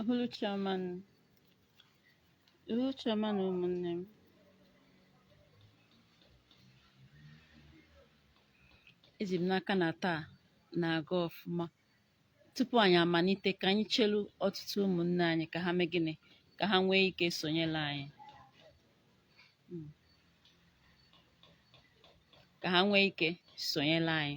Uhuruchi ọma nụ. Uhuruchi ọma nụ ụmụnne m. Eji m n'aka na taa na-aga ọfụma. Tupu anyị amalite, ka anyị chelu ọtụtụ ụmụnne anyị ka ha mee gịnị? Ka ha nwee ike sonyere anyị. Hmm. Ka ha nwee ike sonyere anyị.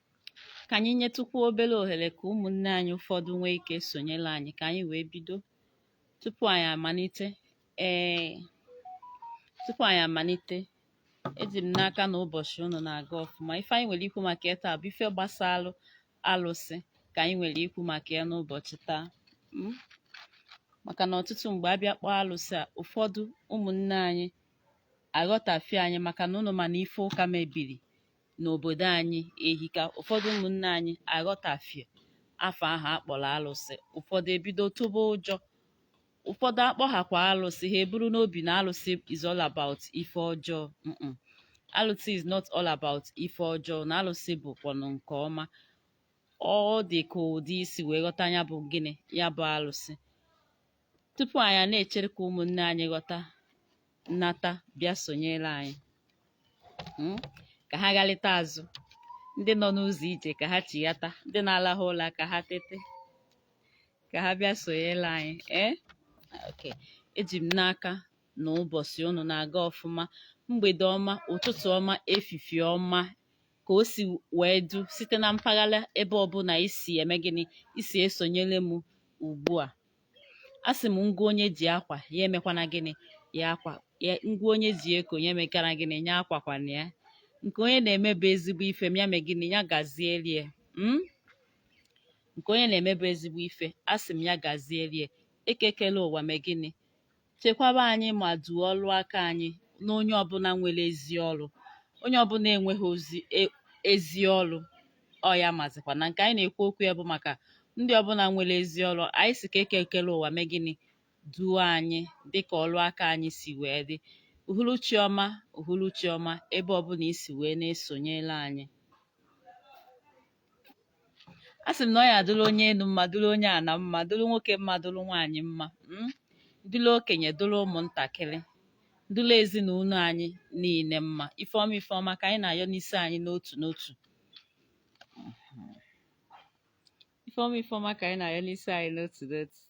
ka anyị nyetụkwu obere ohere ka ụmụnne anyị ụfọdụ nwee ike sonyere anyị ka anyị wee bido tupu anyị amalite ee tupu anyị amalite eji m n'aka na ụbọchị unu na-aga ọfụma ife anyị nwere ikwu maka ya taa bụ ife gbasara alụsị ka anyị nwere ikwu maka ya n'ụbọchị taa hmm? maka na ọtụtụ mgbe a bịa kpọọ alụsị a ụfọdụ ụmụnne anyị aghọtafie anyị maka na unu ma na ife ụka mebiri n'obodo anyị ehika ụfọdụ ụmụnne anyị aghọtafie afa ahụ a kpọrọ alụsị ụfọdụ ebido tụba ụjọ ụfọdụ a kpọhakwa alụsị ha eburu n'obi na alụsị is all about ife ọjọọ Mm-mm. alụsị is not all about ife ọjọọ na alụsị bụkwanụ nke ọma ọ dị ka ụdị i si wee ghọta ya bụ gịnị ya bụ alụsị tupu anyị a na-echere ka ụmụnne anyị ghọta nata bịa sonyere anyị hmm? ka ha ghalịta azụ ndị nọ n'ụzọ ije ka ha chighata ndị na-alahụ ụla ka ha tete ka ha bịa sonyere anyị ee eh? okay eji m n'aka na ụbọchị unu na-aga ọfụma mgbede ọma ụtụtụ ọma efifie ọma ka o si wee dụ site na mpaghara ebe ọbụla i si eme gịnị i si esonyere m ugbu a a sị m ngwa onye ji akwa ya emekwana gịnị ya akwa ya ngwa onye ji eko ya emekwana gịnị ya akwakwana ya nke onye na-emebe ezigbo ife m ya mee gịnị ya gazierie mm? nke onye na-emebe ezigbo ife a sị m ya gazierie Eke kele ụwa mee gịnị chekwaba anyị ma duo ọlụ aka anyị na onye ọbụla nwere ezi ọlụ onye ọbụla enweghị ozi e- ezi ọlụ ọ ya mazikwa na nke anyị na-ekwu okwu ya bụ maka ndị ọbụla nwere ezi ọlụ anyị sị ka Eke kele ụwa mee gịnị duo anyị dịka ọlụ aka anyị si wee dị uhuruchi ọma uhuruchi ọma ebe ọbụla i si wee na-esonyela anyị a sị m na ọ ya adụrụ onye enu mma dụrụ onye ana mma dụrụ nwoke mma dụrụ nwaanyị mma mm, dụrụ okenye dụrụ ụmụntakịrị dụrụ ezinụlọ anyị niile mma ife ọma ife ọma ka anyị na-ayọ n'isi anyị n'otu n'otu ife ọma ife ọma ka anyị na-ayọ n'isi anyị n'otu n'otu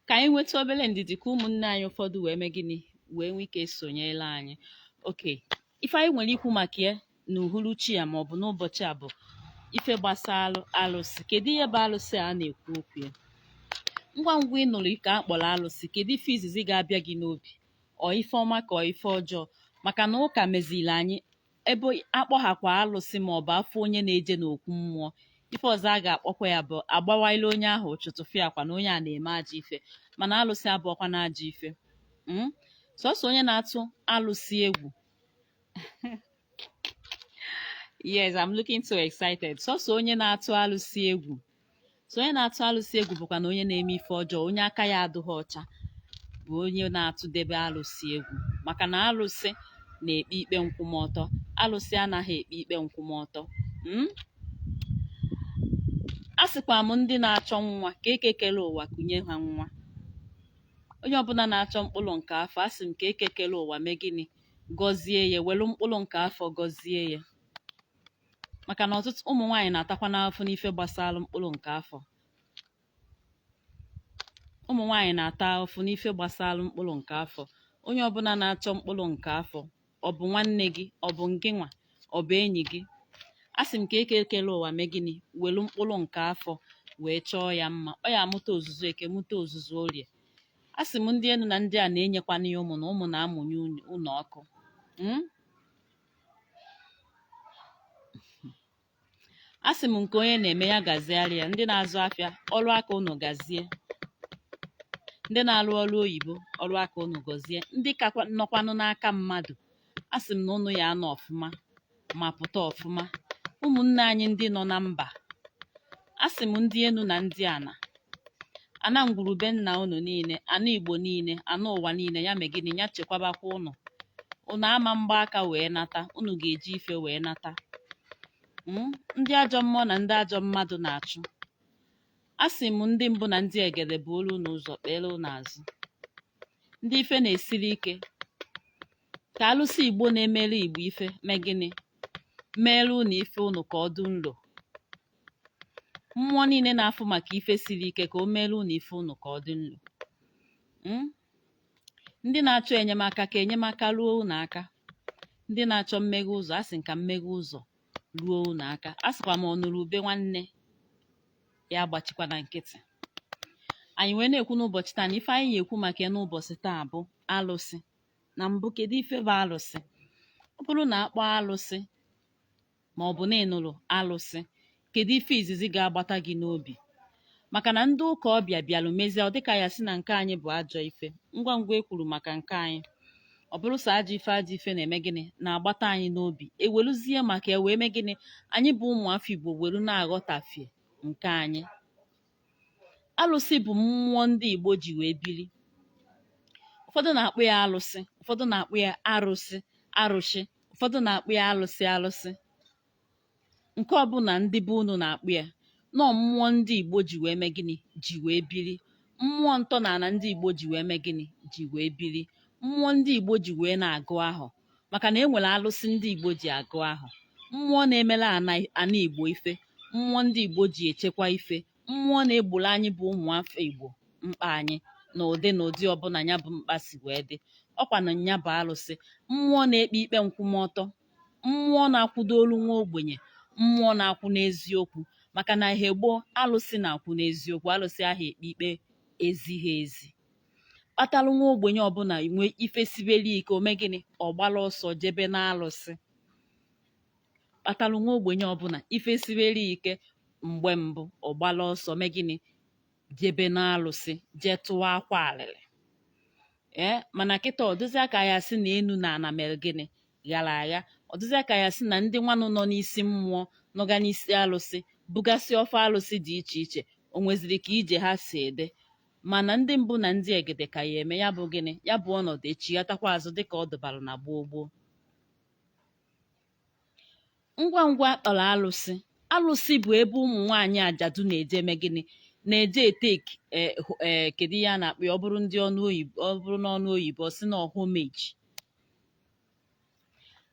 ka anyị nwetụ obere ndidi ka ụmụnne anyị ụfọdụ wee mee gịnị wee nwee ike sonyere anyị okay ife anyị nwere ikwu maka ya n'uhuruchi a ma ọ bụ n'ụbọchị a bụ ife gbasara alụsị kedu ihe bụ alụsị a na-ekwu okwu ya ngwa ngwa ị nụrụ ka a kpọrọ alụsị kedu ife izizi ga-abịa gị n'obi ọ ife ọma ka ọ ife ọjọọ maka na ụka meziri anyị ebe a kpọghakwa alụsị ma ọ bụ a fụ onye na-eje n'okwu mmụọ ife ọzọ a ga-akpọkwa ya bụ a gbawaala onye ahụ ụchụ tụfịakwa na onye a na-eme ajọ ife mana alụsị abụọkwa na ajọ ife mm? sọsọ onye na-atụ alụsị egwu yes i'm looking so excited sọsọ onye na-atụ alụsị egwu so onye na-atụ alụsị egwu bụkwa na onye na-eme ife ọjọọ onye aka ya adịghị ọcha bụ onye na-atụdebe alụsị egwu maka na alụsị na-ekpe ikpe nkwụmọtọ alụsị anaghị ekpe ikpe nkwụmọtọ hmm? asịkwa m ndị na-achọ nwa ka eke kele ụwa kunye ha nwa onye ọbụla na-achọ mkpụrụ nke afọ asị m ka eke kele ụwa mee gịnị gọzie ya welu mkpụrụ nke afọ gọzie ya maka na ọtụtụ ụmụ nwaanyị na-atakwanụ afụfụ n'ife gbasara mkpụrụ nke afọ ụmụ nwaanyị na-ata afụfụ n'ife gbasara mkpụrụ nke afọ onye ọbụla na-achọ mkpụrụ nke afọ ọ bụ nwanne gị ọ bụ ngị nwa ọ bụ enyi gị asị m ka eke kele ụwa mee gịnị welu mkpụrụ nke afọ wee chọọ ya mma ọ ya amụta ozuzu eke mụta ozuzu orie asị m ndị enu na ndị ana enyekwana ya ụmụ na ụmụ na-amụnye ụnọ ọkụ hmm? asị m nke onye na-eme ya gaziara ya ndị na-azụ afịa ọrụ aka unu gazie ndị na-arụ ọrụ oyibo ọrụ aka unu gazie ndị ka nọkwanụ n'aka mmadụ asị m na unu ya-anọ ọfụma ma pụta ọfụma ụmụnne anyị ndị nọ na mba asị m ndị enu na ndị ana ana ngwuru be nna unu niile ana igbo niile ana ụwa niile ya mee gịnị ya chekwabakwa unu unu ama gba aka wee nata unu ga-eji ife wee nata hmm? ndị ajọ mmụọ na ndị ajọ mmadụ na-achụ asị m ndị mbụ na ndị egede buolu unu ụzọ kpeere unu azụ ndị ife na-esiri ike ka alụsị igbo na-emere igbo ife mee gịnị meere unu ife unu ka ọ dị nlo mmụọ niile na-afụ maka ife siri ike ka o meere unu ife unu ka ọ dị nlo hmm? ndị na-achọ enyemaka ka enyemaka ruo unu aka ndị na-achọ mmeghe ụzọ asị m ka mmeghe ụzọ ruo unu aka asịkwa m ọ nụrụ ube nwanne ya agbachikwana nkịtị anyị wee na-ekwu n'ụbọchị taa na ife anyị na-ekwu maka ya n'ụbọchị taa bụ alụsị na mbụ kedu ife bụ alụsị ọ bụrụ na a kpọọ alụsị ma ọ bụ na ị nụrụ alụsị kedu ife izizi ga-agbata gị n'obi maka na ndị ụka ọbịa bịalụ mezie ọ dịka ya sị na nke anyị bụ ajọ ife ngwa ngwa e kwuru maka nke anyị ọ bụrụ sọ ajọ ife ajọ ife na-eme gịnị na-agbata anyị n'obi eweluzie maka ya wee mee gịnị anyị bụ ụmụafọ Igbo welu na-aghọtafie nke anyị alụsị bụ mmụọ ndị Igbo ji wee biri ụfọdụ na-akpọ ya alụsị ụfọdụ na-akpọ ya arụsị arụsị ụfọdụ na-akpọ ya alụsị alụsị nke ọbụla ndị be unu na-akpọ ya nọọ mmụọ ndị Igbo ji wee mee gịnị ji wee biri mmụọ ntọala ndị Igbo ji wee mee gịnị ji wee biri mmụọ ndị Igbo ji wee na-agwọ ahụ maka na e nwere alụsị ndị Igbo ji agwọ ahụ mmụọ na-emere ana Igbo ife mmụọ ndị Igbo ji echekwa ife mmụọ na-egboro anyị bụ ụmụafọ Igbo mkpa anyị na ụdị na ụdị ọbụla ya bụ mkpa si wee dị ọkwa na nya bụ alụsị mmụọ na-ekpe ikpe nkwụmọtọ mmụọ na-akwụdolu nwa ogbenye mmụọ na-akwụ n'eziokwu maka na ehe gboo alụsị na-akwụ n'eziokwu alụsị aha ekpe ikpe ezighi ezi kpatalụ nwa ogbenye ọbụla nwee ife sibere ike o mee gịnị ọ gbara ọsọ jebe n'alụsị kpatalụ nwa ogbenye ọbụla ife sibere ike mgbe mbụ ọ gbara ọsọ mee gịnị jebe n'alụsị jee tụwa akwa alịlị ee mana kịta ọ dụzịa ka ya sị na enu na ana mere gịnị ghara agha ọ dụzịa ka ya sị na ndị nwanụ nọ n'isi mmụọ nọga n'isi alụsị bugasị ọfọ alụsị dị iche iche o nweziri ka ije ha si ede mana ndị mbụ na ndị egede ka ya-eme ya bụ gịnị ya bụ ọnọdụ echighatakwa azụ dịka ọ dụbara na gboo gboo ngwa ngwa a kpọrọ alụsị alụsị bụ ebe ụmụ nwaanyị ajadu na-eje eme gịnị na-eje e-take ee kedu ihe a na-akpọ ya ọ bụrụ ndị ọnụ oyibo ọ bụrụ n'ọnụ oyibo ọ sị na homage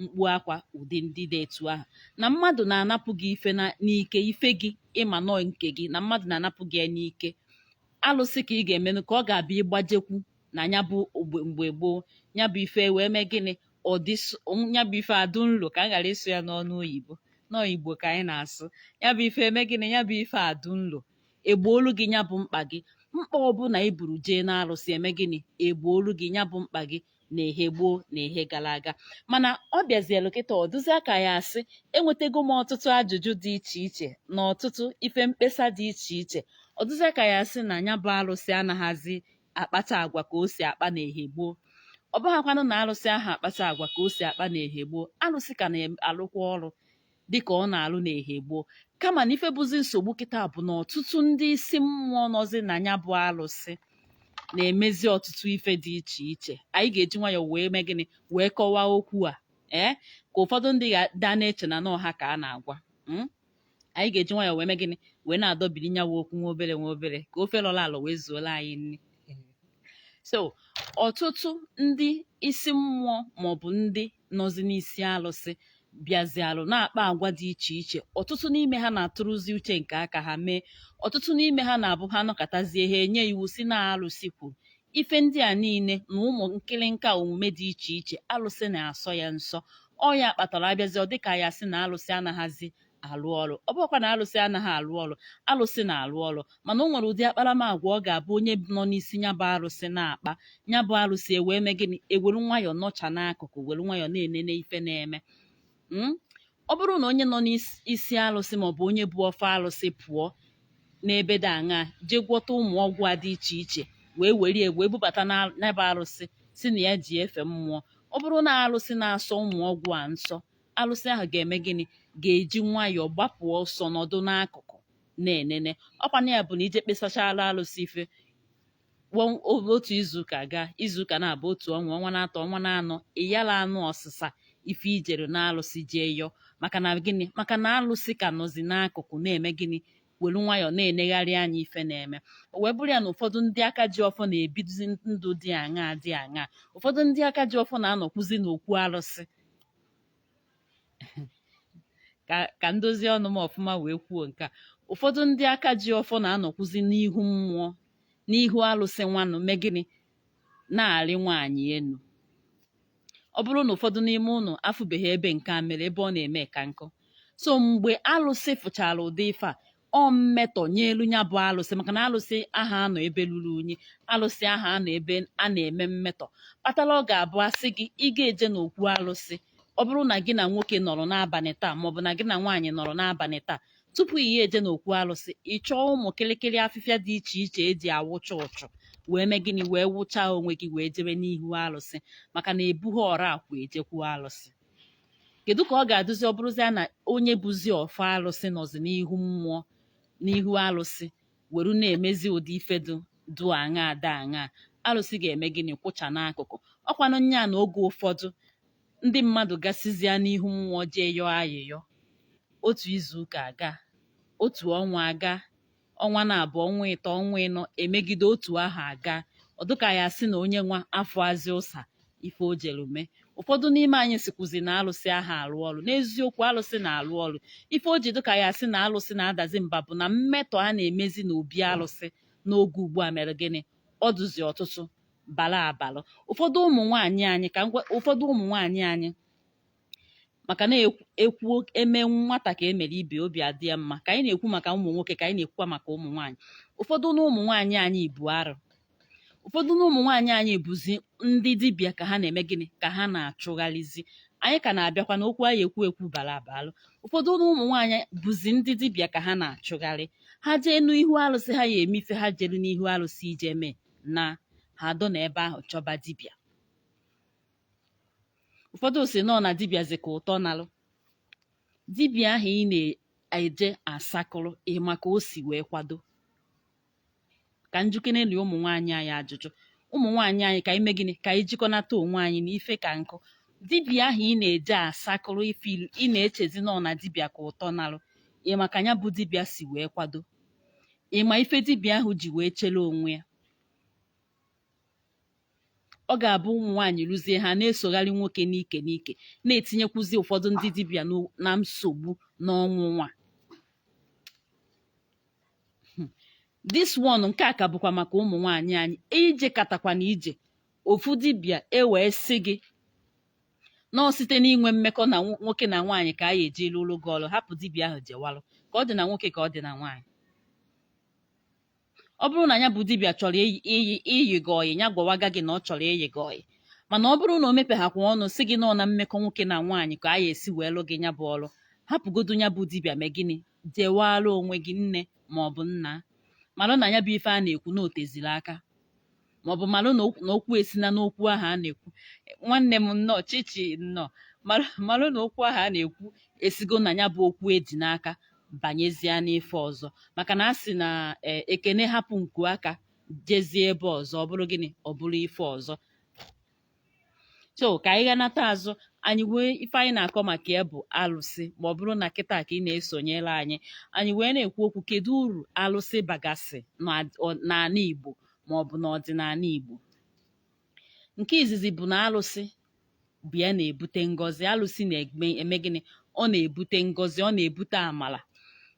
mkpu akwa ụdị ndị dị etu ahụ na mmadụ na-anapụ gị ife na- n'ike ife gị ị ma nọọ nke gị na mmadụ na-anapụ gị ya n'ike alụsị ka ị ga-emenụ ka ọ ga-abụ ị gbajekwu na ya bụ ogbe- mgbe gboo ya bụ ife wee mee gịnị ọ dị s- ya bụ ife adụ nlo ka m ghara ịsụ ya n'ọnụ oyibo nọọ Igbo ka anyị na-asụ ya bụ ife eme gịnị ya bụ ife adụ nlo e gboolu gị ya bụ mkpa gị mkpa ọbụla i buru jee n'alụsị eme gịnị e gboolu gị ya bụ mkpa gị na ehe gboo na ehe gara aga mana ọ bịazielu kịta ọ dụzịa ka ya asị enwetego m ọtụtụ ajụjụ dị iche iche na ọtụtụ ife mkpesa dị iche iche ọ dụzịa ka ya asị na nya bụ arụsị anaghịzi akpata agwa ka o si akpa na ehe gboo ọ bụghakwanụ na arụsị aha akpata agwa ka o si akpa na ehe gboo arụsị ka na-alụkwa ọrụ dịka ọ na-alụ n'ehe gboo kama na ife bụzi nsogbu kịta bụ na ọtụtụ ndị isi mmụọ nọzi na ya bụ alụsị na-emezi ọtụtụ ife dị iche iche anyị ga-eji nwayọọ wee mee gịnị wee kọwaa okwu a ee ka ụfọdụ ndị ga-ada na-eche na na ọ ha ka a na-agwa mm? anyị ga-eji nwayọọ wee mee gịnị wee na-adọbiri nyawa okwu nwa obere nwa obere ka ofe lọrọ alọ wee zuola anyị nri so ọtụtụ ndị isi mmụọ maọbụ ndị nọzi n'isi alụsị bịazialụ na-akpa agwa dị iche iche ọtụtụ n'ime ha na-atụrụzi uche nke aka ha mee ọtụtụ n'ime ha na-abụ ha nọkatazie ha enye iwu sị na alụsị kwuru ife ndị a niile na ụmụ nkịlịnka omume dị iche iche alụsị na-asọ ya nsọ ọ ya kpatara abịazi ọ dịka ya sị na alụsị anaghịzi alụ ọrụ ọ bụkwa na alụsị anaghị alụ ọrụ alụsị na-alụ ọrụ mana o nwere ụdị akparamagwa ọ ga-abụ onye nọ n'isi ya bụ arụsị na-akpa ya bụ arụsị ewee mee gịnị ewere nwayọọ nọcha n'akụkụ were nwayọọ na-enene ife na-eme mm? ọ bụrụ na onye nọ n'isi arụsị maọbụ onye bu ọfọ arụsị pụọ n'ebe dị aṅa jee gwọta ụmụ ọgwụ a dị iche iche wee were ya wee bubata n'ebe arụsị sị na ya ji efe mmụọ ọ bụrụ na arụsị na-asọ ụmụ ọgwụ a nsọ alụsị ahụ ga-eme gịnị ga-eji nwayọọ gbapụ ọsọ nọdụ n'akụkụ na-enene ọkwa na ya bụ na i jee kpesachara alụsị ife wọn- o- otu izuụka gaa izuụka naabọ otu ọnwa ọnwa na-atọ ọnwa na-anọ ị yala anụ ọsịsa ife i jere n'alụsị jee yọọ maka na gịnị maka na alụsị ka nọzi n'akụkụ na-eme gịnị welu nwayọọ na-enegharị anya ife na-eme o wee bụrụ ya na ụfọdụ ndị aka ji ọfọ na-ebizi ndụ dị aṅaa dị aṅaa ụfọdụ ndị aka ji ọfọ na-anọkwuzi n'okwu alụsị ka ka m dozie ọnụ m ọfụma wee kwuo nke a ụfọdụ ndị aka ji ọfọ na-anọkwuzi n'ihu mmụọ n'ihu alụsị nwanụ mee gịnị na-arị nwaanyị enu ọ bụrụ na ụfọdụ n'ime ụnụ afụbeghị ebe nke a mere ebe ọ na-eme ka m kọọ so mgbe alụsị fụchara ụdị ife a ọ mmetọ nyelu ya bụ alụsị maka na alụsị aha anọ ebe luru unyi alụsị aha anọ ebe a na-eme mmetọ kpatara ọ ga-abụ a sị gị ị ga-eje n'okwu alụsị ọ bụrụ na gị na nwoke nọrọ n'abalị taa maọbụ na gị na nwaanyị nọrọ n'abalị taa tupu ị ya-eje n'okwu alụsị ị chọọ ụmụ kịrịkịrị afịfịa dị iche iche eji awụcha ụchụ wee mee gịnị wee wụchaa onwe gị wee jebe n'ihu alụsị maka na ebughị ọra akwa ejekwu alụsị kedu ka ọ ga-adụzi ọ bụrụzia na onye buzi ọfọ alụsị nọzi n'ihu mmụọ n'ihu alụsị were na-emezi ụdị ife dụ dụ aṅaa dụ aṅaa alụsị ga-eme gịnị kwụcha n'akụkụ ọkwanụ nya na oge ụfọdụ ndị mmadụ gasịzịa n'ihu mmụọ jee yọọ ayịyọ otu izu ụka agaa otu ọnwa agaa ọnwa na-abụ ọnwa ịtọ ọnwa ịnọ emegide otu aha aga ọ dịka ya sị na onye nwa afọ azị ụsa ife o jere mee ụfọdụ n'ime anyị sikwuzi na alụsị aha arụ ọrụ n'eziokwu alụsị na-arụ ọrụ ife o ji dịka ya sị na alụsị na-adazi mba bụ na mmetọ a na-emezi n'obi alụsị n'oge ugbu a mere gịnị ọ dụzi ọtụtụ bara abara ụfọdụ ụmụ nwaanyị anyị ka ụfọdụ ụmụ nwaanyị anyị maka na-ekwu e mee nwata ka e mere ibe obi adị ya mma ka anyị na-ekwu maka ụmụ nwoke ka anyị na-ekwukwa maka ụmụ nwaanyị ụfọdụ na ụmụ nwaanyị anyị bụ arụ ụfọdụ na ụmụ nwaanyị anyị bụzi ndị dibịa ka ha na-eme gịnị ka ha na-achụgharịzi anyị ka na-abịakwa na okwu anyị ekwu ekwu bara abalụ ụfọdụ na ụmụ nwaanyị bụzi ndị dibịa ka ha na-achụgharị ha jee n'ihu arụsị ha ya eme ife ha jelu n'ihu arụsị ije mee na ha dọ na ebe ahụ chọba dibịa ụfọdụ sị na ọ na dibịa zi ka ụtọ nalụ dibịa ahụ ị na-eje asakụrụ ị ma ka o si wee kwado ka m jụkenenụ ụmụ nwaanyị anyị ajụjụ ụmụ nwaanyị anyị ka anyị mee gịnị ka anyị jikọnata onwe anyị na ife ka nkụ dibịa ahụ ị na-eje asakụrụ ife ilu ị na-echezi na ọ na dibịa ka ụtọ nalụ ị ma ka ya bụ dibịa si wee kwado ị ma ife dibịa ahụ ji wee chere onwe ya ọ ga-abụ ụmụ nwaanyị ruzie ha na-esogharị nwoke n'ike n'ike na-etinyekwuzi ụfọdụ ndị dibịa n'o- na nsogbu n'ọnwụnwa this one nke a ka bụkwa maka ụmụ nwaanyị anyị i jekatakwa na ije ofu dibịa e wee sị gị na ọ site n'inwe mmekọ na nwo- nwoke na nwaanyị ka a ya eji lụrụ gị ọrụ hapụ dibịa ahụ jewalụ ka ọ dị na nwoke ka ọ dị na nwaanyị ọ bụrụ na ya bụ dibịa chọrọ iyi gị ọyị ya gwawaga gị na ọ chọrọ iyi gị ọyị mana ọ bụrụ na o mepeghakwa ọnụ sị gị na ọ na mmekọ nwoke na nwaanyị ka a ya esi wee lụ gị ya bụ ọrụ hapụgodu ya bụ dibịa mee gịnị jewara onwe gị nne ma ọ bụ nna mara na ya bụ ife a na-ekwu na o teziri aka maọbụ malụ na okwu esina n'okwu ahụ a na-ekwu nwanne m nnọọ chichi nnọọ malụ na okwu ahụ a na-ekwu esigo na ya bụ okwu e ji n'aka banyezie n'ife ọzọ maka na a sị na e, ekene hapụ nku aka jezie ebe ọzọ ọ bụrụ gịnị ọ bụrụ ife ọzọ so ka anyị ghanata azụ anyị nwee ife anyị na-akọ maka ya bụ alụsị ma ọ bụrụ na kịta ka ị na-esonyere anyị anyị wee na-ekwu okwu kedu uru alụsị bagasị n'ala Igbo ma ọ bụ n'ọdịnala Igbo nke izizi bụ na alụsị bụ ya na-ebute ngọzi alụsị na-eme gịnị ọ na-ebute ngọzi ọ na-ebute amala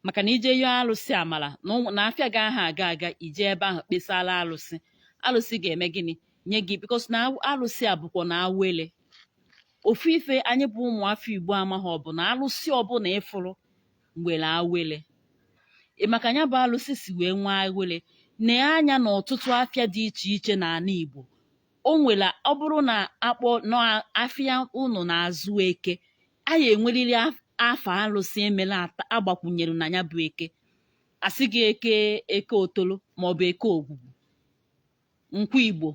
maka na i jee yọọ alụsị amala na afịa gị aha aga aga i jee ebe ahụ kpesara alụsị alụsị ga-eme gịnị nye gị because na alụsị a bụkwa na awele ofu ife anyị bụ ụmụafọ igbo amaghị ọ bụ na alụsị ọbụla ịfụrụ nwere awele ịma ka ya bụ alụsị si wee nwee awele nee anya na ọtụtụ afịa dị iche iche n'ala igbo o nwere ọ bụrụ na akpọ n'afịa unu na-azụ eke a ya enweriri afa alụsị emela agbakwunyere na ya bụ eke asị gị eke eke otolo maọbụ eke ogwugwu nkwọ igbo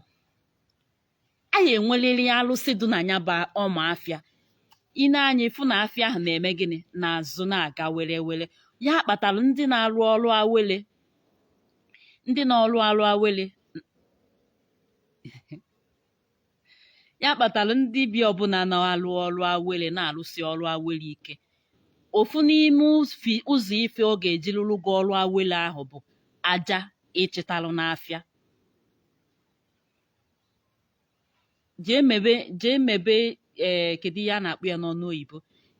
a ya enweliri alụsị dị na ya bụ ọma afịa ị nee anya ịfụ na afịa ahụ na-eme gịnị na-azụ na-aga were were ya kpatara ndị na-arụ ọrụ awele ndị na-ọrụ arụ awele ya kpatara dibịa ọbụla na-alụ ọrụ awele na-alụsi ọrụ awele ike ofu n'ime ụfi- ụzọ ife ọ ga-eji lụrụ gị ọrụ awele ahụ bụ aja ịchịtalụ n'afịa jee mebe jee mebe ee kedu ihe a na-akpọ ya n'ọnụ oyibo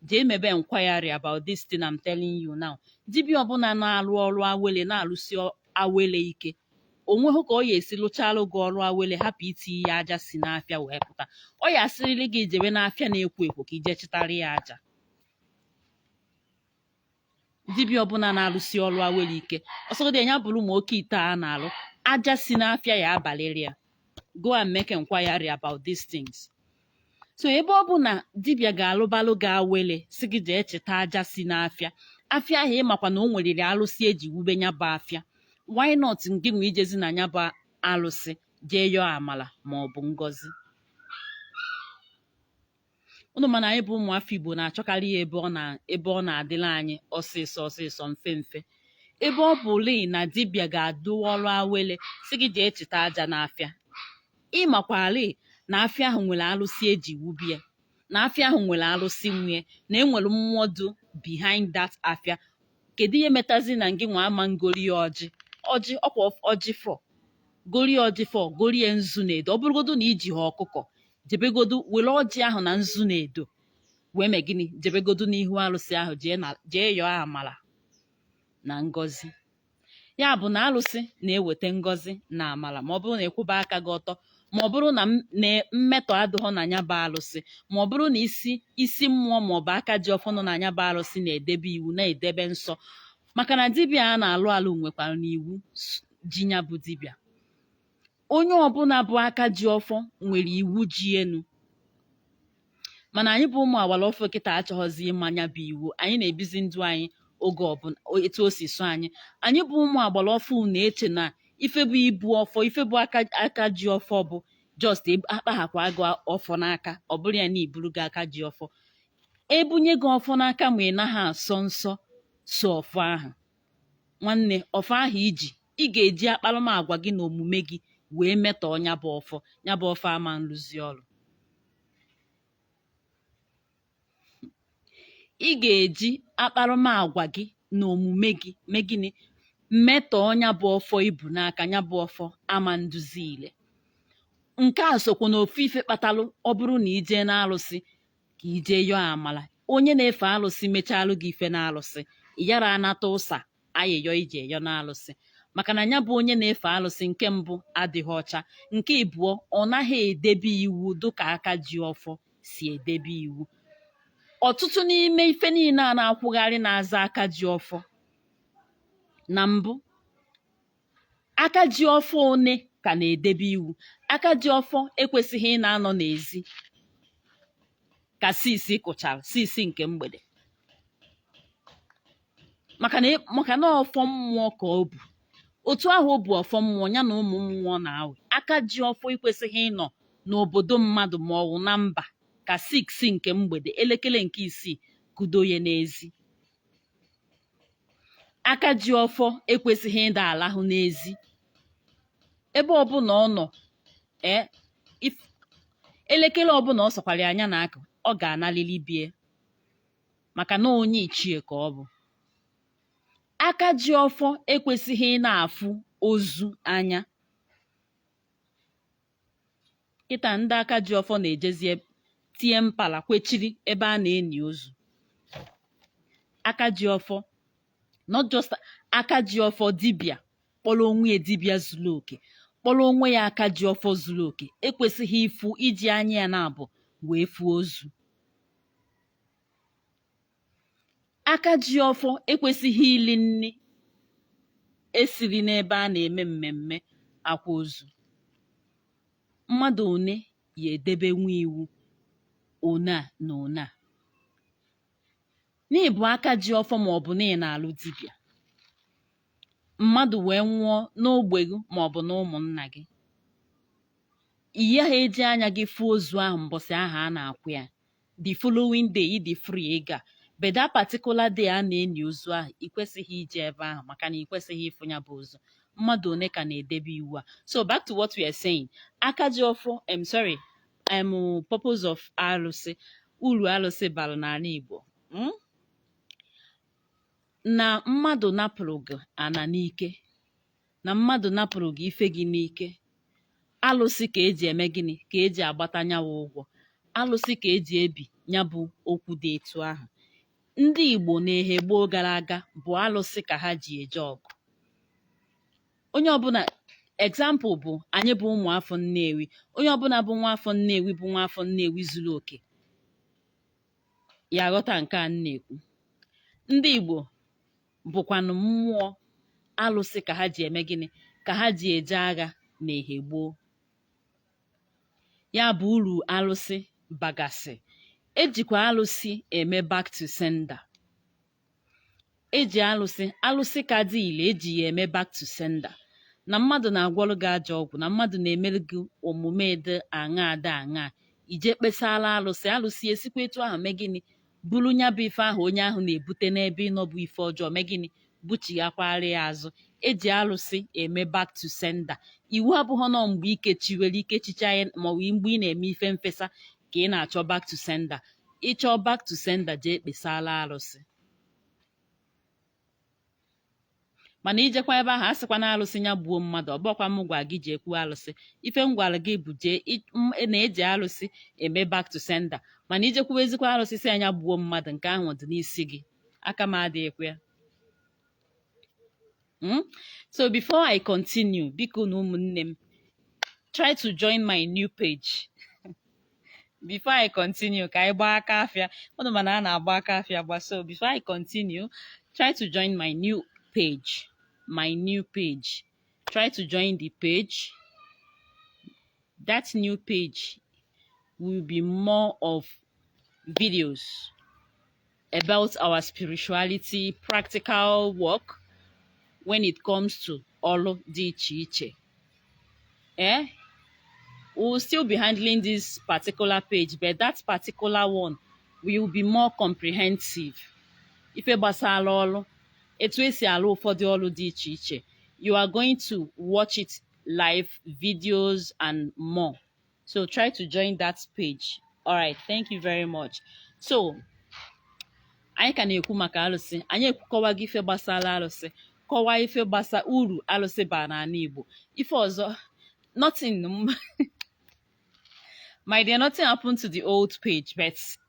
jee mebe inquiry about this thing I'm telling you now dibịa ọbụla na-alụ ọrụ awele na-alụsi ọ- awele ike onweghị ka ọ ya esi lụchalụ gị ọrụ awele hapụ itinye ya aja si n'afịa wee pụta ọ ya asịrịrị gị jewe n'afịa na-ekwo ekwo ka ije chịtara ya aja dibịa ọbụla na-alụsi ọrụ awele ike ọ sọgodi ya bụrụ ma oke ite a na-alụ aja si n'afịa ya abalịrị ya go and make inquiry about these things so ebe ọ bụ na dibịa ga-alụbalụ gị awele sị gị jee chịta aja si n'afịa afịa ahụ ịmakwa na o nweriri alụsị eji wube ya bụ afịa why not ngị nwa ijezi na ya bụ alụsị jee yọọ amala ma ọ bụ ngọzi unu ma na anyị bụ ụmụafọ igbo na-achọkarị ya ebe ọ na ebe ọ na-adịla anyị ọsịsọ ọsịsọ mfe mfe ebe ọ bụ lee na dibịa ga-alụ ọrụ awele sị gị jee chịta aja n'afịa ị makwarị na afịa ahụ nwere alụsị eji wube ya na afịa ahụ nwere alụsị nwe ya na enwere mmụọ dụ behind that afịa kedu ihe metazi na ngị nwa ama ngori ya ọjị ọjị ọkwa ọjị four gorie ọjị four gorie nzu na edo ọ bụrụgodo na ijihọ ọkụkọ jebegodo were ọjị ahụ na nzu na edo wee mee gịnị jebegodo n'ihu alụsị ahụ jee na jee yọọ amara na ngọzi ya bụ na alụsị na-eweta ngọzi na amala ma ọ bụrụ na ịkwụba aka gị ọtọ ma ọ bụrụ na m- na mmetọ adịghọ na nya bụ alụsị ma ọ bụrụ na isi isi mmụọ ma ọ bụ aka ji ọfọ nọ na nya bụ alụsị na-edebe iwu na-edebe nsọ maka na dibịa a na-alụ alụ nwekwaranụ iwu s- ji ya bụ dibịa onye ọbụla bụ aka ji ọfọ nwere iwu ji enu mana anyị bụ ụmụ agbara ọfụụ kịta achọghịzi ịma nya bụ iwu anyị na-ebizi ndụ anyị oge ọbụla o- etu o si sọ anyị anyị bụ ụmụ agbara ọfụụ na-eche na ife bụ ibu ọfọ ife bụ aka aka ji ọfọ bụ just eb- akpaghakwa gị ọfọ n'aka ọ bụrụ ya na ị bụrụgo aka ji ọfọ e bunye gị ọfọ n'aka ma ị naghị asọ nsọ so ọfọ ahụ nwanne ọfọ ahụ iji ị ga-eji akparamagwa gị na omume gị wee metọọ nya bụ ọfọ nya bụ ọfọ ama nrụzi ọrụ ị ga-eji akparamagwa gị na omume gị mee gịnị metọọ ya bụ ọfọ i bu n'aka nya bụ ọfọ ama ndụzi ile nke a sokwa na ofu ife kpatalụ ọ bụrụ na ị jee n'alụsị ka ị jee yọọ amala onye na-efe alụsị mechalụ gị ife n'alụsị ị yara anata ụsa ayịyọ i je yọ n'alụsị maka na nya bụ onye na-efe alụsị nke mbụ adịghị ọcha nke ịbụọ ọ naghị edebe iwu dịka aka ji ọfọ si edebe iwu ọtụtụ n'ime ife niile a na-akwụgharị na-aza aka ji ọfọ na mbụ aka ji ọfọ one ka na-edebe iwu aka ji ọfọ ekwesịghị ịna-anọ n'ezi ka sisi kụchara sisi nke mgbede maka na ị- maka na ọfọ mmụọ ka o bu otu ahụ o bu ọfọ mmụọ nya na ụmụ mmụọ na-awụ aka ji ọfọ ekwesịghị ịnọ n'obodo mmadụ ma ọ wụ na mba ka siksi nke mgbede elekere nke isii kudo ya n'ezi aka ji ọfọ ekwesịghị ịda-alahụ n'ezi ebe ọbụla ọ nọ ee if- elekere ọbụla ọ sọkwara nya na-akụ ọ ga-analili be ye maka na onye ichie ka ọ bụ aka ji ọfọ ekwesịghị ịna-afụ ozu anya kịta ndị aka ji ọfọ na-ejezi eb- tie mpala kwechiri ebe a na-eni ozu aka ji ọfọ not just aka ji ọfọ dibịa kpọrọ onwe ya dibịa zuru oke kpọrọ onwe ya aka ji ọfọ zuru oke ekwesịghị ịfụ iji anya ya naabọ wee fụ ozu aka ji ọfọ ekwesịghị ili nni e siri n'ebe a na-eme mmemme akwa ozu mmadụ one ya-edebenwu iwu one a na one a na ị bụ aka ji ọfọ ma ọ bụ na ị na-alụ dibịa mmadụ wee nwụọ n'ogbe gị ma ọ bụ na ụmụnna gị ị yaha eji anya gị fụ ozu ahụ mbọsị ahụ a na-akwa ya the following day ị dị free ịga but that particular day a na-enyi ozu ahụ ị kwesịghị ije ebe ahụ maka na ị kwesịghị ịfụ ya bụ ozu mmadụ one ka na-edebe iwu a so back to what we are saying aka ji ọfọ em sorry em purpose of alụsị uru alụsị bara n'ana Igbo mm? na mmadụ napụrụ gị ana n'ike na mmadụ napụrụ gị ife gị n'ike alụsị ka eji eme gịnị ka eji agbata nyawa ụgwọ alụsị ka eji ebi ya bụ okwu dị etu ahụ ndị Igbo n'ehe gboo gara aga bụ alụsị ka ha ji eje ọgụ onye ọbụna example bụ anyị bụ ụmụ afọ Nnewi onye ọbụna bụ nwa afọ Nnewi bụ nwa afọ Nnewi zuru oke ya-aghọta nke a m na-ekwu ndị Igbo bụkwanụ mmụọ alụsị ka ha ji eme gịnị ka ha ji eje agha n'ehe gboo ya bụ uru alụsị bagasị ejikwa alụsị eme back to sender eji alụsị alụsị ka dị ile eji ya eme back to sender na mmadụ na-agwọrụ gị ajọ ọgwụ na mmadụ na-emere gị omume dị aṅa dị aṅa i jee kpesara alụsị alụsị esikwa etu ahụ mee gịnị buru nya bụ ife ahụ onye ahụ na-ebute n'ebe ị nọ bụ ife ọjọọ mee gịnị buchighakwara ya azụ eji alụsị eme back to sender iwu abụghị nọ mgbe ikechiwere ikechicha ya maọbụ mgbe ị na-eme ife mfesa ka ị na-achọ back to sender ị chọọ back to sender jee kpesara arụsị mana i jekwa ebe ahụ asịkwa na alụsị ya gbuo mmadụ ọ bụhọkwa m gwa gị jee kwuo alụsị ife m gwara gị bụ jee i- m- na eji alụsị eme back to sender mana i jekwuwa ezikwa alụsị sị nya gbuo mmadụ nke ahụ dị n'isi gị aka m adịghịkwa ya Mm? so before i continue biko nụ ụmụnne m try to join my new page before I continue ka anyị gbaa aka afịa ụnụ mana a na-agba aka afịa gba so before I continue try to join my new page my new page try to join the page that new page will be more of videos about our spirituality, practical work when it comes to Olo di Chiche. Eh? We'll still be handling this particular page, but that particular one will be more comprehensive. Ife gbasara ọlụ, etu esi alụ ụfọdụ ọlụ dị iche iche. You are going to watch it live videos and more. so try to join that page all right thank you very much so anyị ka na-ekwu maka alụsị anyị ekwu- kọwago ife gbasara alụsị kọwaa ife gbasa uru alụsị baa n'ana Igbo ife ọzọ nothing my dear nothing happened to the old page but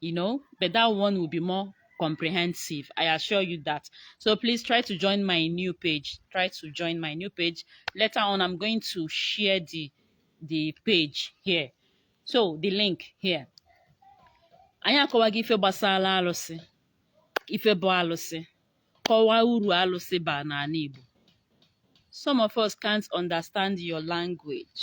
you know but that one will be more comprehensive i assure you that so please try to join my new page try to join my new page later on i'm going to share the the page here so the link here anyị akọwago ife gbasara alụsị ife bụ alụsị kọwaa uru alụsị ba n'ana Igbo some of us can't understand your language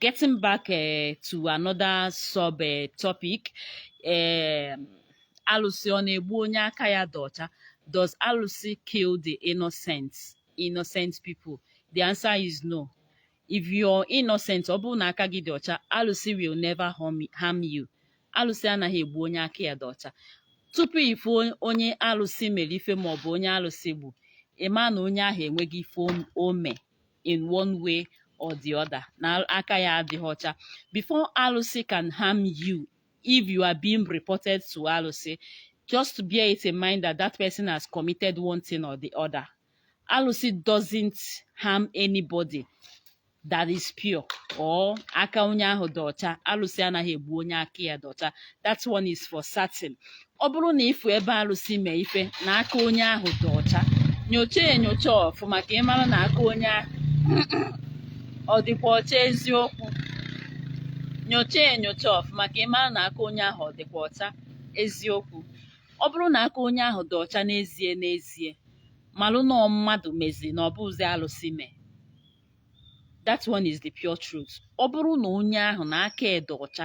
getting back uh, to another sub uh, topic uh, alụsị ọ na-egbu onye aka ya dị ọcha does alụsị kill the innocent innocent people the answer is no if you're innocent ọ bụrụ na aka gị dị ọcha alụsị will never harm you alụsị anaghị egbu onye aka ya dị ọcha tupu ịfụ onye alụsị mere ife maọbụ onye alụsị gbu ịma na onye ahụ enweghị ife o me in one way or the other na aka ya adịghị ọcha before alụsị can harm you if you are being reported to alụsị just bear it in mind that that person has committed one thing or the other alụsị doesn't harm anybody that is pure or aka onye ahụ dị ọcha alụsị anaghị egbu onye aka ya dị ọcha that one is for certain ọ bụrụ na ịfụ ebe alụsị mee ife na aka onye ahụ dị ọcha nyocha enyocha ọfụma ka ịmara na aka onye ahụ ọ dịkwa ọcha eziokwu nyocha enyocha ọfụma ka ịmara na aka onye ahụ ọ dịkwa ọcha eziokwu ọ bụrụ na aka onye ahụ dị ọcha n'ezie n'ezie malụ na mmadụ mezi na ọ bụzi alụsị mee that one is the pure truth ọ bụrụ na onye ahụ na aka ya dị ọcha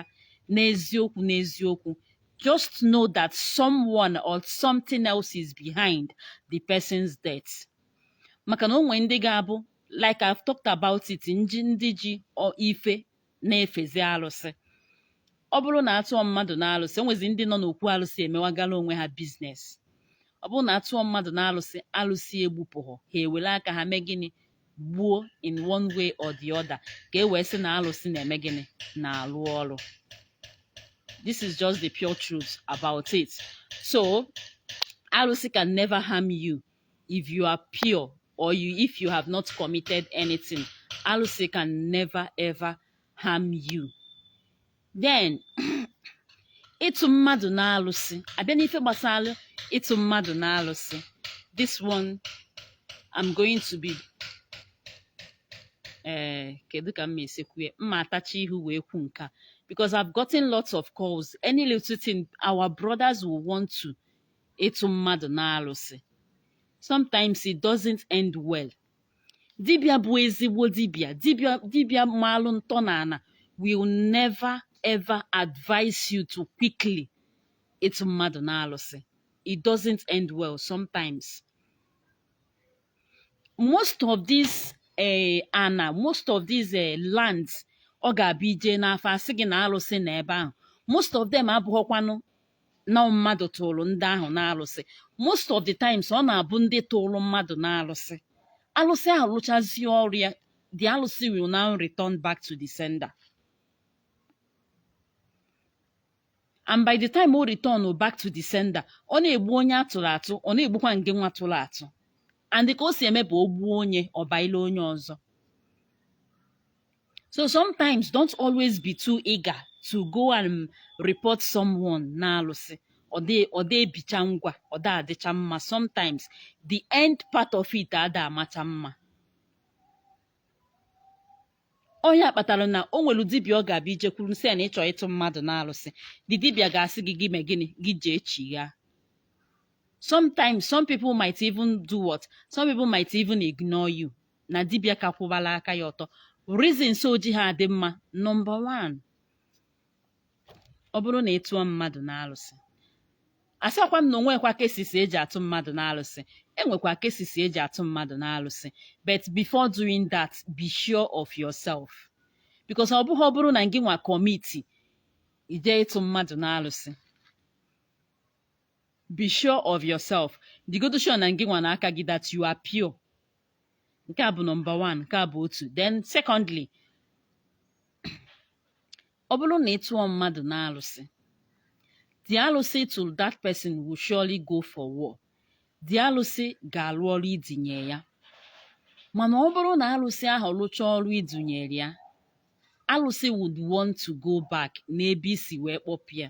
n'eziokwu n'eziokwu just know that someone or something else is behind the person's death maka na o nwe ndị ga-abụ like I've talked about it nji ndị ji ife na-efezi alụsị ọ bụrụ na atụọ mmadụ na alụsị enwezi ndị nọ n'okwu alụsị emewagala onwe ha business ọ bụrụ na atụọ mmadụ na alụsị alụsị egbupụghọ ha ewere aka ha mee gịnị gbuo in one way or the other ka e wee sị na alụsị na-eme gịnị na-alụ ọrụ this is just the pure truth about it so alụsị can never harm you if you are pure or you if you have not committed anything alụsị can never ever harm you then ịtụ mmadụ n'alụsị abịa n'ife gbasara ịtụ mmadụ n'alụsị this one I'm going to be ee eh, kedu ka m ma-esi kwu ya m ma-atachi ihu wee kwu nke a because I've gotten lots of calls any little thing our brothers will want to ịtụ mmadụ n'alụsị sometimes it doesn't end well dibịa bụ ezigbo dibịa dibịa dibịa maalụ ntọ na ana will never ever advise you to quickly ịtụ mmadụ n'alụsị it doesn't end well sometimes most of these eh, ana most of these eh, lands ọ ga-abụ ịje n'afa asị gị na alụsị nọ ebe ahụ most of them abụghọkwanụ na mmadụ tụrụ ndị ahụ n'alụsị most of the times ọ na-abụ ndị tụrụ mmadụ n'alụsị alụsị ahụ lụchazie ọrụ ya the alụsị will now return back to the sender and by the time o return back to the sender ọ na-egbu onye a tụrụ atụ ọ na-egbukwa ngịnwa tụrụ atụ and ka o si eme bụ o gbuo onye ọ baile onye ọzọ so sometimes don't always be too eager to go and report someone n'alụsị ọ dị ebicha ngwa ọ dị adịcha mma sometimes the end part of it ada amacha mma ọ ya kpatara na o nwere dibịa ọ ga-abụ i jekwuru sị ya na ị chọ ịtụ mmadụ n'alụsị the dibịa ga-asị gị gị mee gịnị gị jee chi ya sometimes some people might even do what some people might even ignore you na dibịa ka kwụbara aka ya ọtọ reasons o jiha adị mma nọmba one ọ bụrụ na ị tụọ mmadụ n'alụsị asịkwa m na o nwekwa cases e ji atụ mmadụ n'alụsị e nwekwa cases e ji atụ mmadụ n'alụsị but before doing that be sure of yourself because ọ bụghị ọ bụrụ na gị nwa commit i je ịtụ mmadụ n'alụsị be sure of yourself dịgodo sure na gị nwa na aka gị that you are pure nke a bụ nọmba 1 nke a bụ otu then secondly ọ bụrụ na ị tụọ mmadụ n'alụsị the alụsị ị tụ that person will surely go for war the alụsị ga-alụ ọrụ i dunye ya mana ọ bụrụ na alụsị ahụ lụchaa ọrụ i dunyere ya alụsị would want to go back n'ebe i si wee kpọpụ ya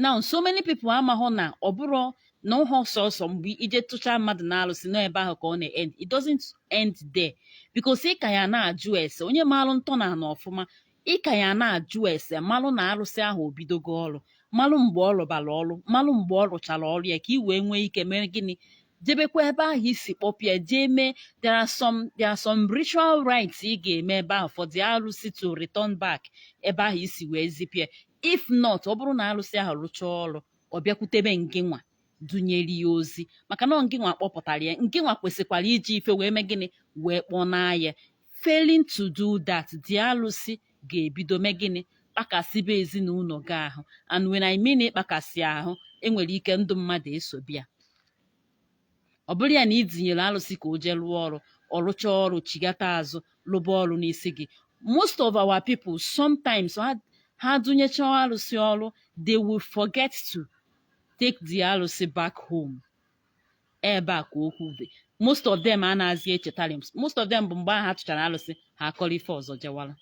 now so many people amahụ na ọ bụrụ na ụhọ sọsọ mgbe i je tụchaa mmadụ na alụsị na ọ ebe ahụ ka ọ na-end it doesn't end there because ị ka ya na-ajụ ese onye maalụ ntọ na ana ọfụma ị ka ya na-ajụ ese malụ na arụsị ahụ o bidogo ọrụ malụ mgbe ọ rụbara ọrụ malụ mgbe ọ rụchara ọrụ ya ka ị wee nwee ike mee gịnị jebekwa ebe ahụ i si kpọpụ ya jee mee there are some there are some ritual rites ị ga-eme ebe ahụ for the arụsị to return back ebe ahụ i si wee zipụ ya if not ọ bụrụ na alụsị ahụ rụchaa ọrụ ọ bịakwutebe ngịnwa dunyere ya ozi maka na ngịnwa kpọpụtara ya ngịnwa kwesịkwara iji ife wee mee gịnị wee kpọnaa ya failing to do that the alụsị ga-ebido mee gịnị kpakasịba ezi na ụnọ gị ahụ and when I mean ịkpakasị ahụ e nwere ike ndụ mmadụ esobe ya ọ bụrụ ya na i dunyere alụsị ka o jee rụọ ọrụ ọ rụchaa ọrụ chigata azụ lụba ọrụ n'isi gị most of our people sometimes ha dunyecha alụsị ọrụ they will forget to take the alụsị back home ebe a ka okwu dị most of them anaghịzi echetara most of them bụ mgbe ahụ ha tụchara alụsị ha akọrọ ife ọzọ jewara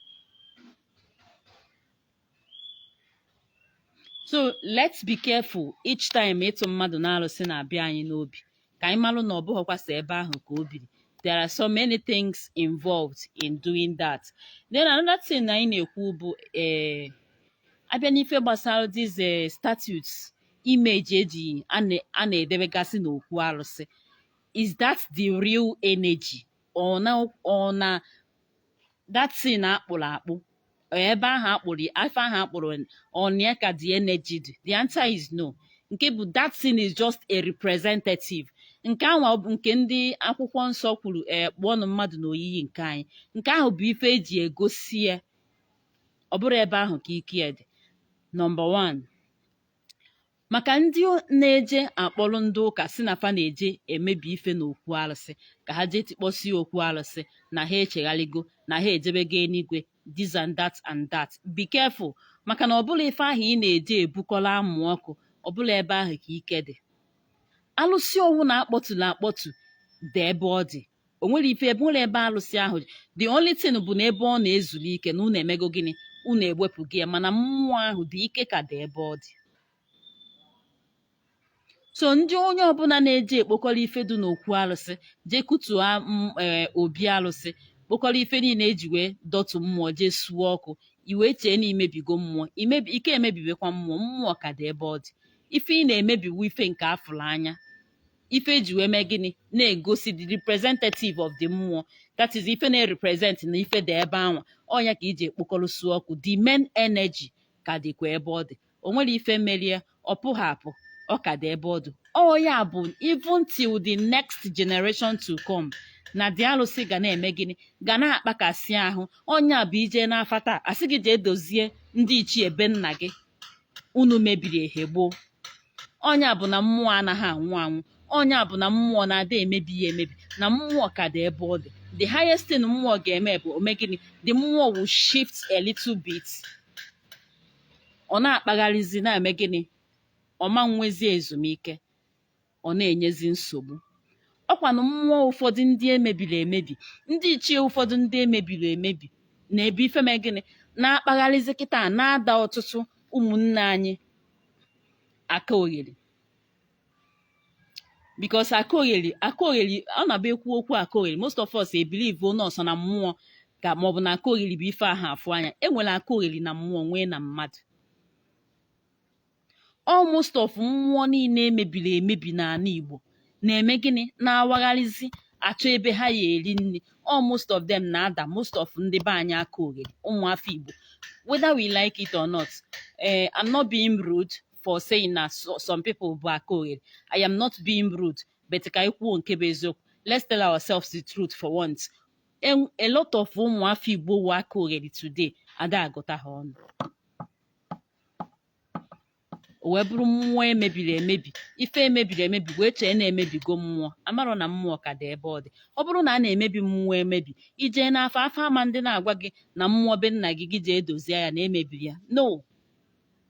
so let's be careful each time ịtụ mmadụ n'alụsị na-abịa anyị n'obi ka anyị malụ na ọ bụghịkwa so ebe ahụ ka o biri there are so many things involved in doing that then another thing anyị na-ekwu bụ ee abịa n'ife gbasara these eh, statutes image eji a na-edebegasị n'okwu alụsị is that the real energy ọ nọ na that thing akpụrụ akpụ ebe ahụ akpụrụ ife ahụ akpụrụ ọnya ka the energy dị the answer is no nke bụ that thing is just a representative nke ahụ ọ bụ nke ndị akwụkwọ nsọ kwuru ee kpụọnụ mmadụ n'oyiyi nke anyị nke ahụ bụ ife eji egosi ya ọ bụrọ ebe ahụ ka ike ya dị number 1 maka ndị na-eje akpọrọ ndị ụka sị na fa na-eje emebi ife n'okwu arụsị ka ha jee tikpọsi okwu arụsị na ha echegharịgo na ha ejebego enuigwe this and that and that be careful maka na ọ bụrọ ife ahụ ị na-eje ebukọrọ amụ ọkụ ọ bụrọ ebe ahụ ka ike dị alụsị ọbụna akpọtụrụ akpọtụ dị ebe ọ dị o nwerọ ife mere ebe alụsị ahụ the only thing bụ na ebe ọ na-ezuru ike na unu emego gịnị unu ewepụgo ya mana mmụọ ahụ dị ike ka dị ebe ọ dị so ndị onye ọbụla na-eje ekpokọrọ ife dị n'okwu alụsị jee kutuo e, obi alụsị kpokọrọ ife niile eji wee dọtụ mmụọ jee suo ọkụ i wee chee na i mebigo mmụọ ị ka emebibekwa mmụọ mmụọ ka dị ebe ọ dị ife ị na-emebi bụ ife nke afụrụ anya ife eji wee mee gịnị na-egosi the representative of the mmụọ that is ife na-represent na ife dị ebe anwa ọnya ka i jee kpokọrọ suo ọkụ the main energy ka dịkwa ebe ọ dị o nwerọ ife mere ya ọ pụghị apụ ọ ka dị ebe ọ dị ọ ya bụ even till the next generation to come na the alụsị ga na-eme gịnị ga na-akpakasị ahụ ọnya bụ i jee n'afa taa asị gị jee dozie ndị ichie be nna gị unu mebiri ehe gboo ọnya bụ na mmụọ anaghị anwụ anwụ ọnya bụ na mmụọ na ada emebi ya emebi na mmụọ ka dị ebe ọ dị the highest thing mmụọ ga-eme bụ o mee gịnị the mmụọ will shift a little bit ọ na-akpagharịzi na-eme gịnị ọ ma nwezi ezumike ọ na-enyezi nsogbu ọkwanụ mmụọ ụfọdụ ndị emebiri emebi ndị ichie ụfọdụ ndị emebiri emebi na ebe ife mee gịnị na-akpagharịzi kịta na-ada ọtụtụ ụmụnne anyị aka ogheri because aka ogheri aka ogheri ọ na-abụ e kwuo okwu aka ogheri most of us ebelieve na ọ sọ na mmụọ ka maọbụ na aka ogheri bụ ife ahụ afụ anya enwere aka ogheri na mmụọ nwee na mmadụ almost of mmụọ niile emebiri emebi n'ala Igbo na-eme gịnị na-awagharịzi achọ ebe ha ya eri nri almost of them na-ada most of ndị be anyị aka oghere ụmụafọ Igbo whether we like it or not eh, I'm not being rude for saying na so- some people bụ aka oghere I am not being rude but ka anyị kwuo nke bụ eziokwu let's tell ourselves the truth for once En- a lot of ụmụafọ Igbo wụ aka oghere today ada agụta ha ọnụ o wee bụrụ mmụọ emebiri emebi ife emebiri emebi wee chee na emebigo mmụọ amarọ na mmụọ ka dị ebe ọ dị ọ bụrụ na a na-emebi mmụọ emebi ijee n'afa afa ama ndị na-agwa gị na mmụọ be nna gị gị jee dozie ya na emebiri ya no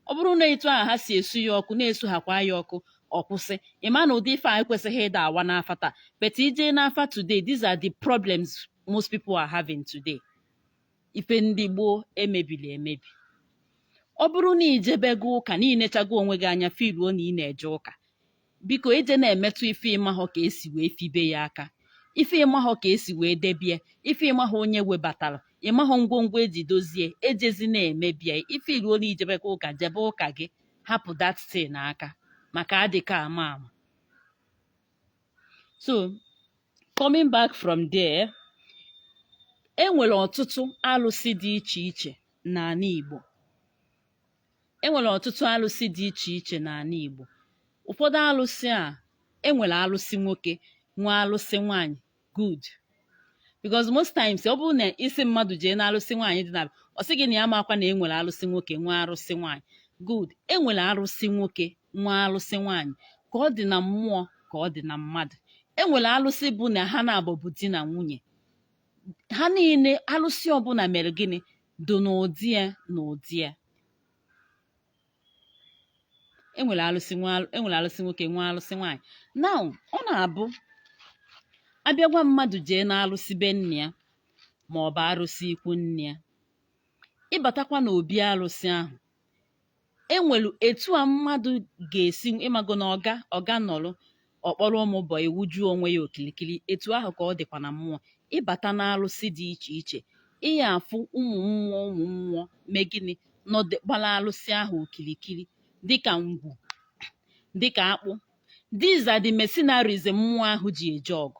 ọ bụrụ na etu ahụ ha si esu ya ọkụ na-esu ha kwa ya ọkụ ọ kwụsị ị ma na ụdị ife a ekwesịghị ịda awa n'afa taa but ijee n'afa today these are the problems most people are having today ife ndị gboo emebiri emebi ọ bụrụ na ijebego ụka na inechago onwe gị anya firuo na ị na-eje ụka biko ejena emetụ ife ịmahọ ka esi wee fibe ya aka ife ịmahọ ka esi wee debie ife ịmahọ onye webatara ịmahọ ngwongwo eji dozie ejezina emebie ifiruo na ijebego ụka jebe ụka gị hapụ that thing aka maka adịka ama ama so coming back from there e nwere ọtụtụ alụsị dị iche iche n'ala Igbo e nwere ọtụtụ alụsị dị iche iche n'ala Igbo ụfọdụ alụsị a e nwere alụsị nwoke nwee alụsị nwaanyị good because most times ọ bụrụ na ị sị mmadụ jee na alụsị nwaanyị dị na ọ sị gị na ya amakwa na e nwere alụsị nwoke nwee arụsị nwaanyị good enwere arụsị nwoke nwee alụsị nwaanyị ka ọ dị na mmụọ ka ọ dị na mmadụ e nwere alụsị bụ na ha naabọ bụ di na nwunye ha niile alụsị ọbụla mere gịnị dị n'ụdị ya n'ụdị ya enwere alụsị nwa enwere alụsị nwoke nwee alụsị nwaanyị now ọ na-abụ abịa gwa mmadụ jee n'alụsị be nne ya ma ọ bụ arụsị ikwu nne ya ịbatakwa n'obi alụsị ahụ enwelu etu a mmadụ ga-esi ịmago na ọga ọga nọrọ ọ kpọrọ ụmụ boy wuju onwe ya okilikili etu ahụ ka ọ dịkwa na mmụọ ịbata na alụsị dị iche iche ịya afụ ụmụ mmụọ ụmụ mmụọ mee gịnị nọdụ gbara alụsị ahụ okilikili dịka ngwu dịka akpụ these are the mercenaries mmụọ ahụ ji eje ọgụ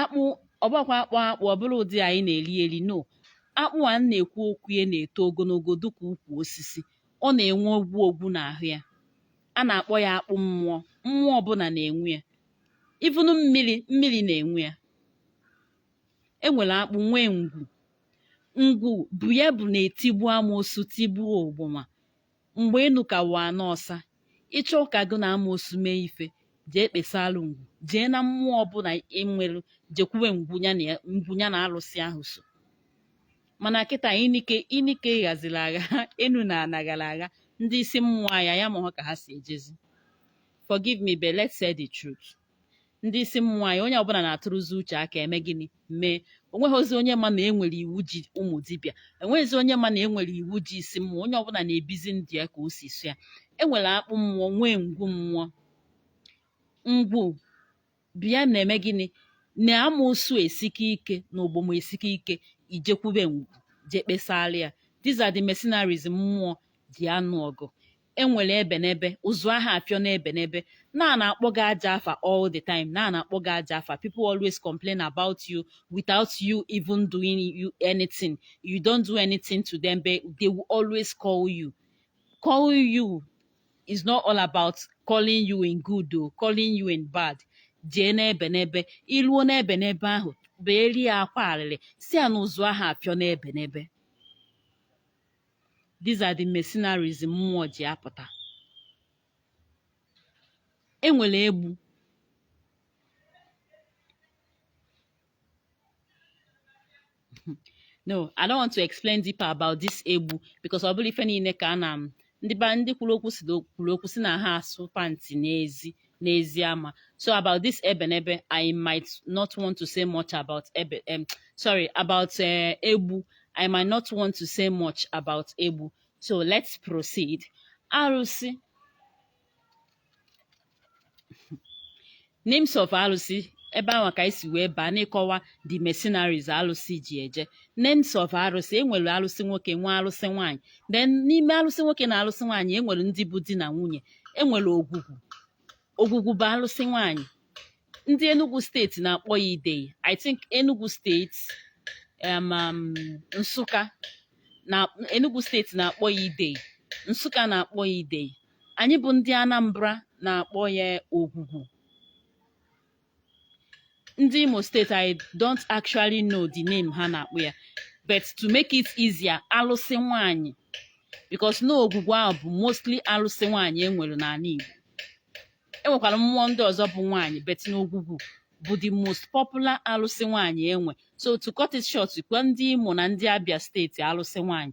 akpụ ọ bụkwa akpụ akpụ ọ bụrọ ụdị anyị na-eri eri no akpụ a na-ekwu okwu ya na-eto ogologo dịka ukwu osisi ọ na-enwe ogwu ogwu n'ahụ ya a na-akpọ ya akpụ mmụọ mmụọ ọbụla na-enwe ya even mmiri mmiri na-enwe ya enwere akpụ nwee ngwu ngwu bụ ya bụ na-etigbu amoosu tigbuo ogboma Mgbe enu ka wụ ana ọsa, ị chọọ ka gị na amoosu mee ife, jee kpesaalụ ngwu. Jee na mmụọ ọbụla enwelụ jekwube ngwu ya na alụsị ahụ so. Mana kịta inike inike ghaziri agha enu na ana ghara agha ndị isi mmụọ anyị anyị amaghọ ka ha si ejezi. Forgive me but let's say the truth. ndị isi mmụọ anyị onye ọbụla na-atụrụzi uche aka eme gịnị mee onweghịzi onye ma na enwere iwu ji ụmụ dibịa enweghịzi onye ma na enwere iwu ji isi mmụọ onye ọbụla na-ebizi ndụ ya ka o si sọ ya enwere akpụ mmụọ nwee ngwu mmụọ ngwu bịa na-eme gịnị na amoosu esike ike na ogboma esike ike ijekwube ngwu jee kpesara ya these are the mercenaries mmụọ ji anụ ọgụ enwere ebenebe ụzụ aha afịọ n'ebenebe na a na-akpọ gị ajọ afa all the time na a na-akpọ gị ajọ afa people always complain about you without you even doing you anything you don't do anything to them but they will always call you call you is not all about calling you in good o calling you in bad jee n'ebenebe iluo n'ebenebe ahụ beere ya akwa arịrị si a na ụzụ aha afịọ n'ebenebe these are the mercenaries mmụọ ji apụta enwere egbu no i don't want to explain deeper about this egbu because ọ bụrọ ife niile ka a na ndị kwuru okwu kwuru okwu si na aha asụ pantị n'ezi n'ezi ama so about this ebenebe i might not want to say much about ebe um, sorry about uh, egbu i might not want to say much about egbu so let's proceed arụsị names of arụsị ebe ahụ ka anyị si wee baa n'ịkọwa the mercenaries alụsị ji eje names of arụsị enwere alụsị nwoke nwee alụsị nwaanyị then n'ime alụsị nwoke na alụsị nwaanyị enwere ndị bụ di na nwunye enwere ogwugwu ogwugwu bụ alụsị nwanyị ndị Enugu steeti na-akpọ ya idei I think Enugu steeti um, um, Nsụka na Enugu steeti na-akpọ ya idei Nsụka na-akpọ ya idei anyị bụ ndị Anambra na-akpọ ya ogwugwu ndị Imo steeti I don't actually know the name ha na-akpọ ya but to make it easier alụsị nwanyị because na ogwugwu ahụ bụ mostly alụsị nwanyị enwere n'ala Igbo enwekwara mmụọ ndị ọzọ bụ nwanyị but na ogwugwu bụ the most popular alụsị nwanyị enwe so to cut it short kwa ndị Imo na ndị Abia steeti alụsị nwanyị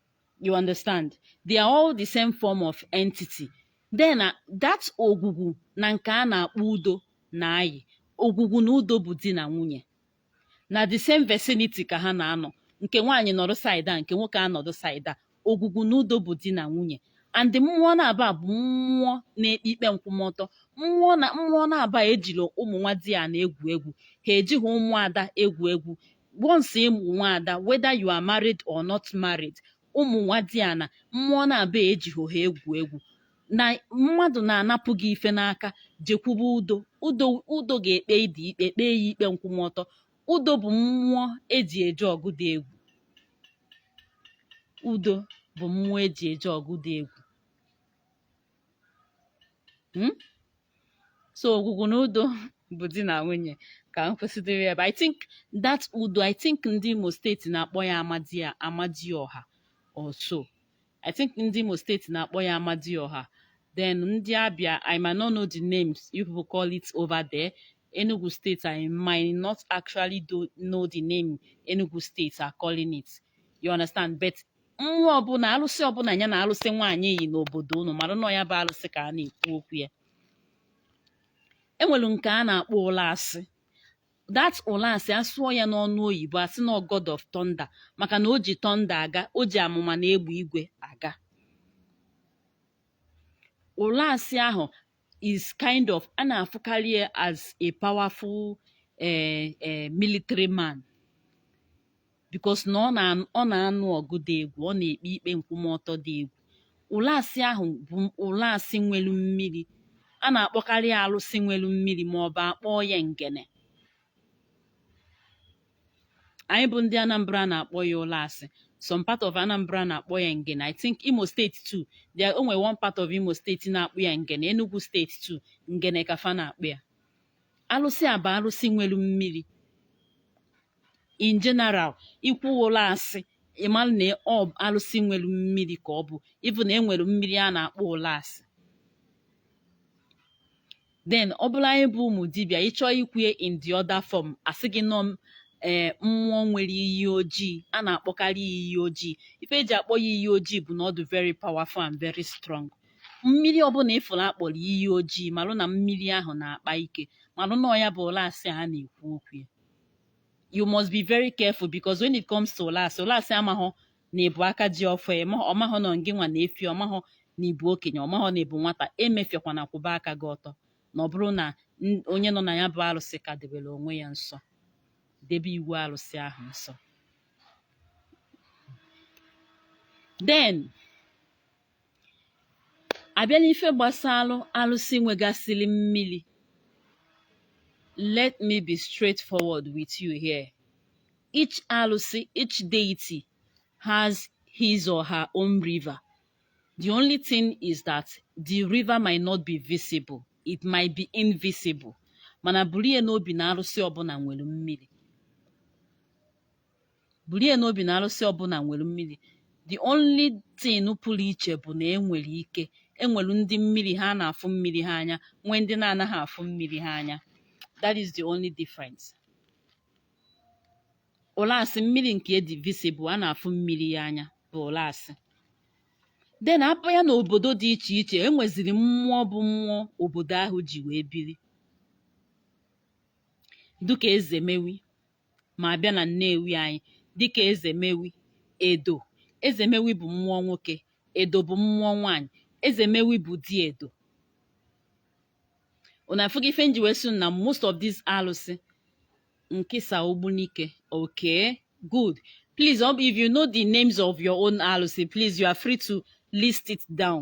you understand they are all the same form of entity then that ogwugwu na nke a na-akpọ udo na-ayi ogwugwu na udo bụ di na nwunye na the same vicinity ka ha na-anọ nke nwaanyị nọdụ side a nke nwoke anọdụ side a ogwugwu na udo bụ di na nwunye and mmụọ naabọ a bụ mmụọ na-ekpe ikpe nkwụmọtọ mmụọ naabọ a ejirọ ụmụ nwadiana egwu egwu ha ejighị ụmụada egwu egwu once ị bụ nwaada whether you are married or not married ụmụ nwadiana mmụọ naabọ a ejighị ha egwu egwu na mmadụ na-anapụ gị ife n'aka jekwube udo udo ga-ekpe ụdị ikpe kpee ya ikpe nkwụmọtọ udo bụ mmụọ eji eje ọgụ dị egwu udo bụ mmụọ eji eje ọgụ dị egwu hmm? so ogwugwu na udo bụ di na nwunye ka m kwụsịdịrị ebe i think that udo i think ndị imo steeti na-akpọ ya amadịọha or so i think ndị imo steeti na-akpọ ya amadịọha then ndị abia i might not know the names you people call it over there enugu state i might not actually do know the name enugu state are calling it you understand but mmụọ ọbụla alụsị ọbụla ya na alụsị nwaanyị yi n'obodo unu marụ na ọ ya bụ alụsị ka a na-ekwu okwu ya enwere nke a na-akpọ ụlasị that ụlasị asụọ ya n'ọnụ oyibo asị na ọ god of thunder maka na o ji thunder aga o ji amụma na egbe igwe aga ụlasị ahụ is kind of a na-afụkarị ya as a powerful eh, eh, military man because na ọ na-anụ ọgụ dị egwu ọ na-ekpe ikpe nkwụmọtọ dị egwu ụlasị ahụ bụ ụlasị nwelu mmiri a na-akpọkarị alụsị nwelu mmiri ma ọ bụ akpọọ ya ngene anyị bụ ndị Anambra na-akpọ ya ụlasị some part of Anambra na-akpọ ya ngene I think Imo steeti too there o nwere one part of Imo steeti na-akpọ ya ngene Enugu steeti too ngene ka fa na-akpọ ya alụsị a bụ alụsị nwere mmiri in general ikwu ụlasị ịmara na ọ bụ alụsị nwere mmiri ka ọ bụ even na enwere mmiri a na-akpọ ụlasị then ọ bụrụ anyị bụ ụmụ dibịa ịchọọ ikwue in the other form asị gị na ọ m ee mmụọ nwere iyi ojii a na-akpọkarị ya iyi ojii ife eji akpọ ya iyi ojii bụ na ọ dị very powerful and very strong mmiri ọbụla ịfụrụ akpọrọ iyi ojii marụ na mmiri ahụ na-akpa ike marụ na ọ ya bụ ụlasị a na-ekwu okwu ya you must be very careful because when it comes to ụlasị ụlasị amaghọ na ịbụ aka ji ọfọ ọmahọ nọ ngị nwa na-efi ọmahọ na ịbụ okenye ọmahọ na ịbụ nwata emefiekwana kwụba aka gị ọtọ na ọ bụrụ na onye nọ na ya bụ arụsị ka debere onwe ya nsọ debe iwu arụsị ahụ nsọ then abịa n'ife gbasara alụsị nwegasịrị mmiri let me be straightforward with you here each alụsị each deity has his or her own river the only thing is that the river might not be visible it might be invisible mana buru ya n'obi na arụsị ọbụla nwere mmiri buru ya n'obi na arụsị ọbụla nwere mmiri the only thing pụrụ iche bụ na enwere ike enwere ndị mmiri ha na-afụ mmiri ha anya nwee ndị na-anaghị afụ mmiri ha anya that is the only difference Ụlasị mmiri nke dị visible a na-afụ mmiri ya anya bụ Ụlasị then apụa n'obodo dị iche iche enweziri mmụọ bụ mmụọ obodo ahụ ji wee biri dịka Ezemewi ma abịa na Nnewi anyị dịka Ezemewi, Edo. Ezemewi bụ mmụọ nwoke, Edo bụ mmụọ nwaanyị. Ezemewi bụ di Edo. Unu afụgo ife nji wee sị na most of these alụsị Nkisa Ogbunike okay good please if you know the names of your own alụsị please you are free to list it down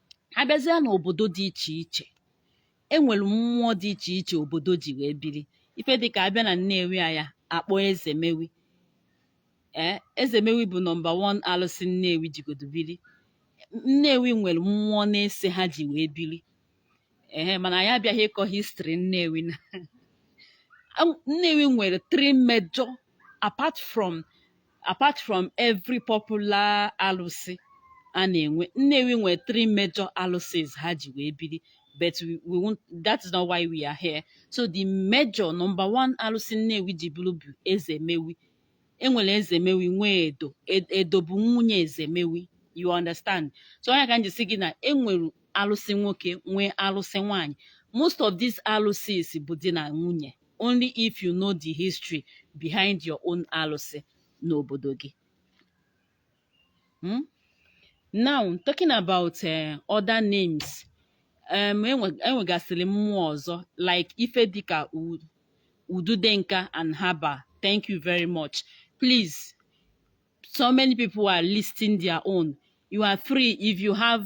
abịazịa n'obodo dị iche iche e nwere mmụọ dị iche iche obodo ji wee biri ife dịka abịa na Nnewi a ya-akpọ Ezemewi ee Ezemewi bụ number 1 alụsị Nnewi jigodo biri Nnewi nwere mmụọ na-ese ha ji wee biri ee mana anyị abịaghị ịkọ history Nnewi na Nnewi nwere three major apart from apart from every popular alụsị a na-enwe Nnewi nwere three major alụsịs ha ji wee biri but we, we won't, that is not why we are here so the major number one alụsị Nnewi ji biri bụ Ezemewi enwere Ezemewi nwee Edo Ed- Edo bụ nwunye Ezemewi you understand so ọ nya ka m ji sị gị na enwere alụsị nwoke nwee alụsị nwaanyị most of these alụsịs bụ di na nwunye only if you know the history behind your own alụsị n'obodo gị hmm? now talking about uh, other names um, enwegasịrị mmụọ ọzọ like ife dịka ududenka and haba thank you very much please so many people are listing their own you are free if you have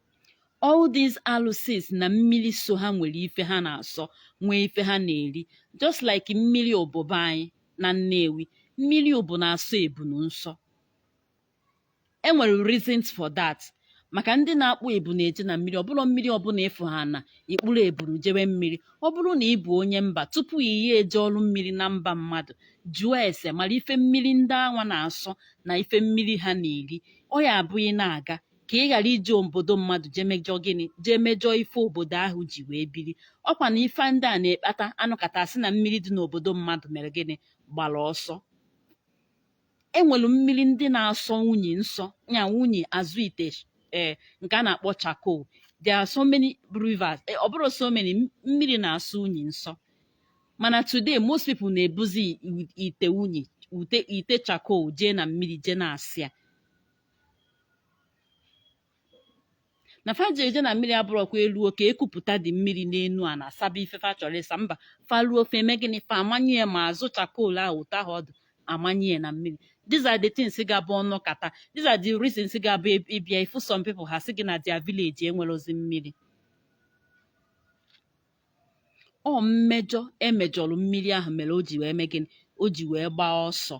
all these alụsịs na mmiri so ha nwere ife ha na-asọ nwee ife ha na-eri just like mmiri Ubu be anyị na Nnewi mmiri Ubu na-asọ ebunu nsọ enwere reasons for that maka ndị na-akpụ ebunu eje na mmiri ọbụla mmiri ọbụla ịfụ ha na ị kpụrụ ebunu jewe mmiri ọ bụrụ na ị bụ onye mba tupu ị ya-eje ọrụ mmiri na mba mmadụ jụọ ese mara ife mmiri ndị anwa na-asọ na ife mmiri ha na-eri ọ ya abụghị na-aga ka ị ghara ije obodo mmadụ jee mejọọ gịnị jee mejọọ ife obodo ahụ ji wee biri ọkwa na ife ndị a na-ekpata a nụkata sị na mmiri dị n'obodo mmadụ mere gịnị gbara ọsọ enwere mmiri ndị na-asọ unyi nsọ ya unyi azụ ite ee nke a na-akpọ charcoal there are so many rivers eh, ọ bụrụ so many m- mmiri na-asọ unyi nsọ mana today most people na-ebuzi i- ite unyi ite charcoal jee na mmiri jee na-asa ya na fa ji eje na mmiri abụrọkwa e luo ka e kupụtadị mmiri n'enu ana asaba ife fa chọrọ ịsa mba fa ruo fa eme gịnị fa amanye ya ma azụ charcoal ahụ ụtọ ahụ ọdụ amanye ya na mmiri these are the things ga-abụ ọ nụkata these are the reasons ga-abụ ị- ị bịa ị fụ some people ha sị gị na their village enwerozi mmiri ọ mmejọ emejọrọ mmiri ahụ mere o ji wee mee gịnị o ji wee gbaa ọsọ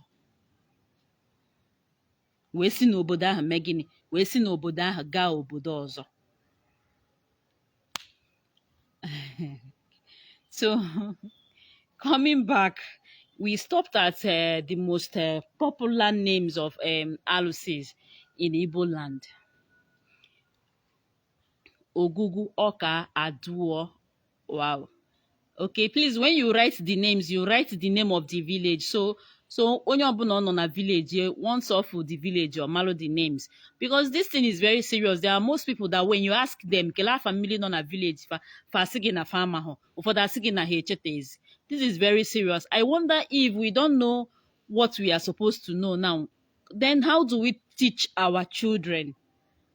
wee si n'obodo ahụ mee gịnị wee si n'obodo ahụ gaa obodo ọzọ so coming back we stopped at uh, the most uh, popular names of um, alusis in Igbo land Ogwugwu ọka aduo Wow. Okay, please, when you write the names, you write the name of the village. So, so onye ọbụla ọ nọ na village eh, once off with the village or malo the names because this thing is very serious there are most people that when you ask them kele afa mmiri nọ na village fa fa asị gị na fa ama hụ ụfọdụ asị gị na ha echetezi this is very serious i wonder if we don't know what we are supposed to know now then how do we teach our children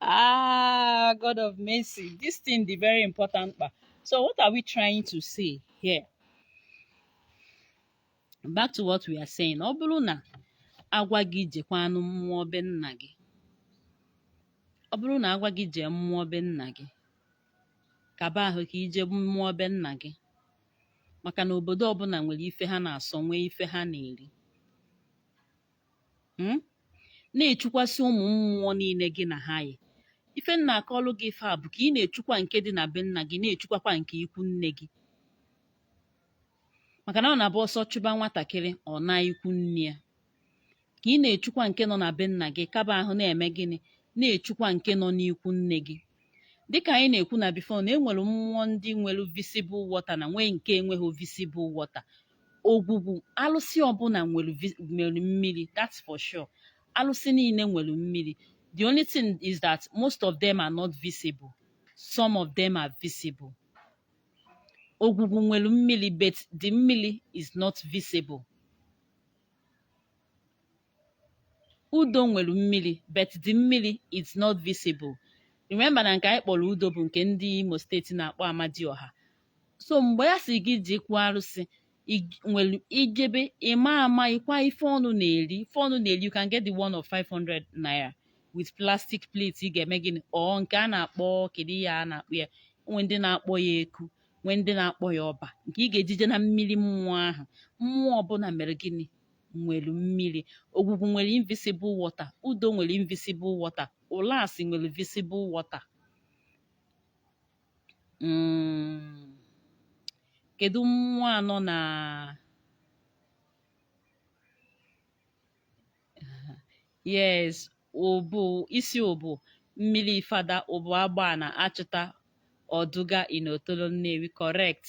ah, God of mercy. This thing dị very important kpa so what are we trying to say here? Back to what we are saying. Ọ bụrụ na a gwa gị jekwanụ mmụọ be nna gị. Ọ bụrụ na a gwa gị jee mmụọ be nna gị. Kaba ahụ ka i jee mmụọ be nna gị. Maka na obodo ọbụla nwere ife ha na-asọ nwee ife ha na-eri. hmm? na-echukwasị ụmụ mmụọ niile gị na ha yi ife m na-akọlụ gị ife a bụ ka ị na-echukwa nke dị na be nna gị na-echukwakwa nke ikwu nne gị maka na ọ na-abụ ọsọ chụba nwatakịrị ọ naa ikwu nne ya ka ị na-echukwa nke nọ na be nna gị kaba ahụ na-eme gịnị na-echukwa nke nọ n'ikwu nne gị dịka anyị na-ekwu na before na enwere mmụọ ndị nwere visible water na nwee nke enweghị visible water ogwugwu alụsị ọbụla nwere vi- nwere mmiri that's for sure alụsị niile nwere mmiri the only thing is that most of them are not visible some of them are visible ogwugwu nwere mmiri but the mmiri is not visible udo nwere mmiri but the mmiri is not visible remember na nke anyị kpọrọ udo bụ nke ndị imo steeti na-akpọ amadioha so mgbe ya sị gị jekwu arụsị ig- nwere ijebe ịma ama ịkwa ife ọnụ na-eri ife ọnụ na-eri you can get the one of 500 naira with plastic plate ị ga-eme gịnị or nke a na-akpọ kedu ihe a na-akpọ ya nwe ndị na-akpọ ya eku nwe ndị na-akpọ ya ọba nke ị ga-eji je na mmiri mmụọ ahụ mmụọ ọbụla mere gịnị nwere mmiri ogwugwu nwere invisible water udo nwere invisible water ụlasị nwere visible water mm. kedu mmụọ anọ na yes ụbụ isi ụbụ mmiri fada ụbụ agba na achụta ọdụga in otolo nnewi correct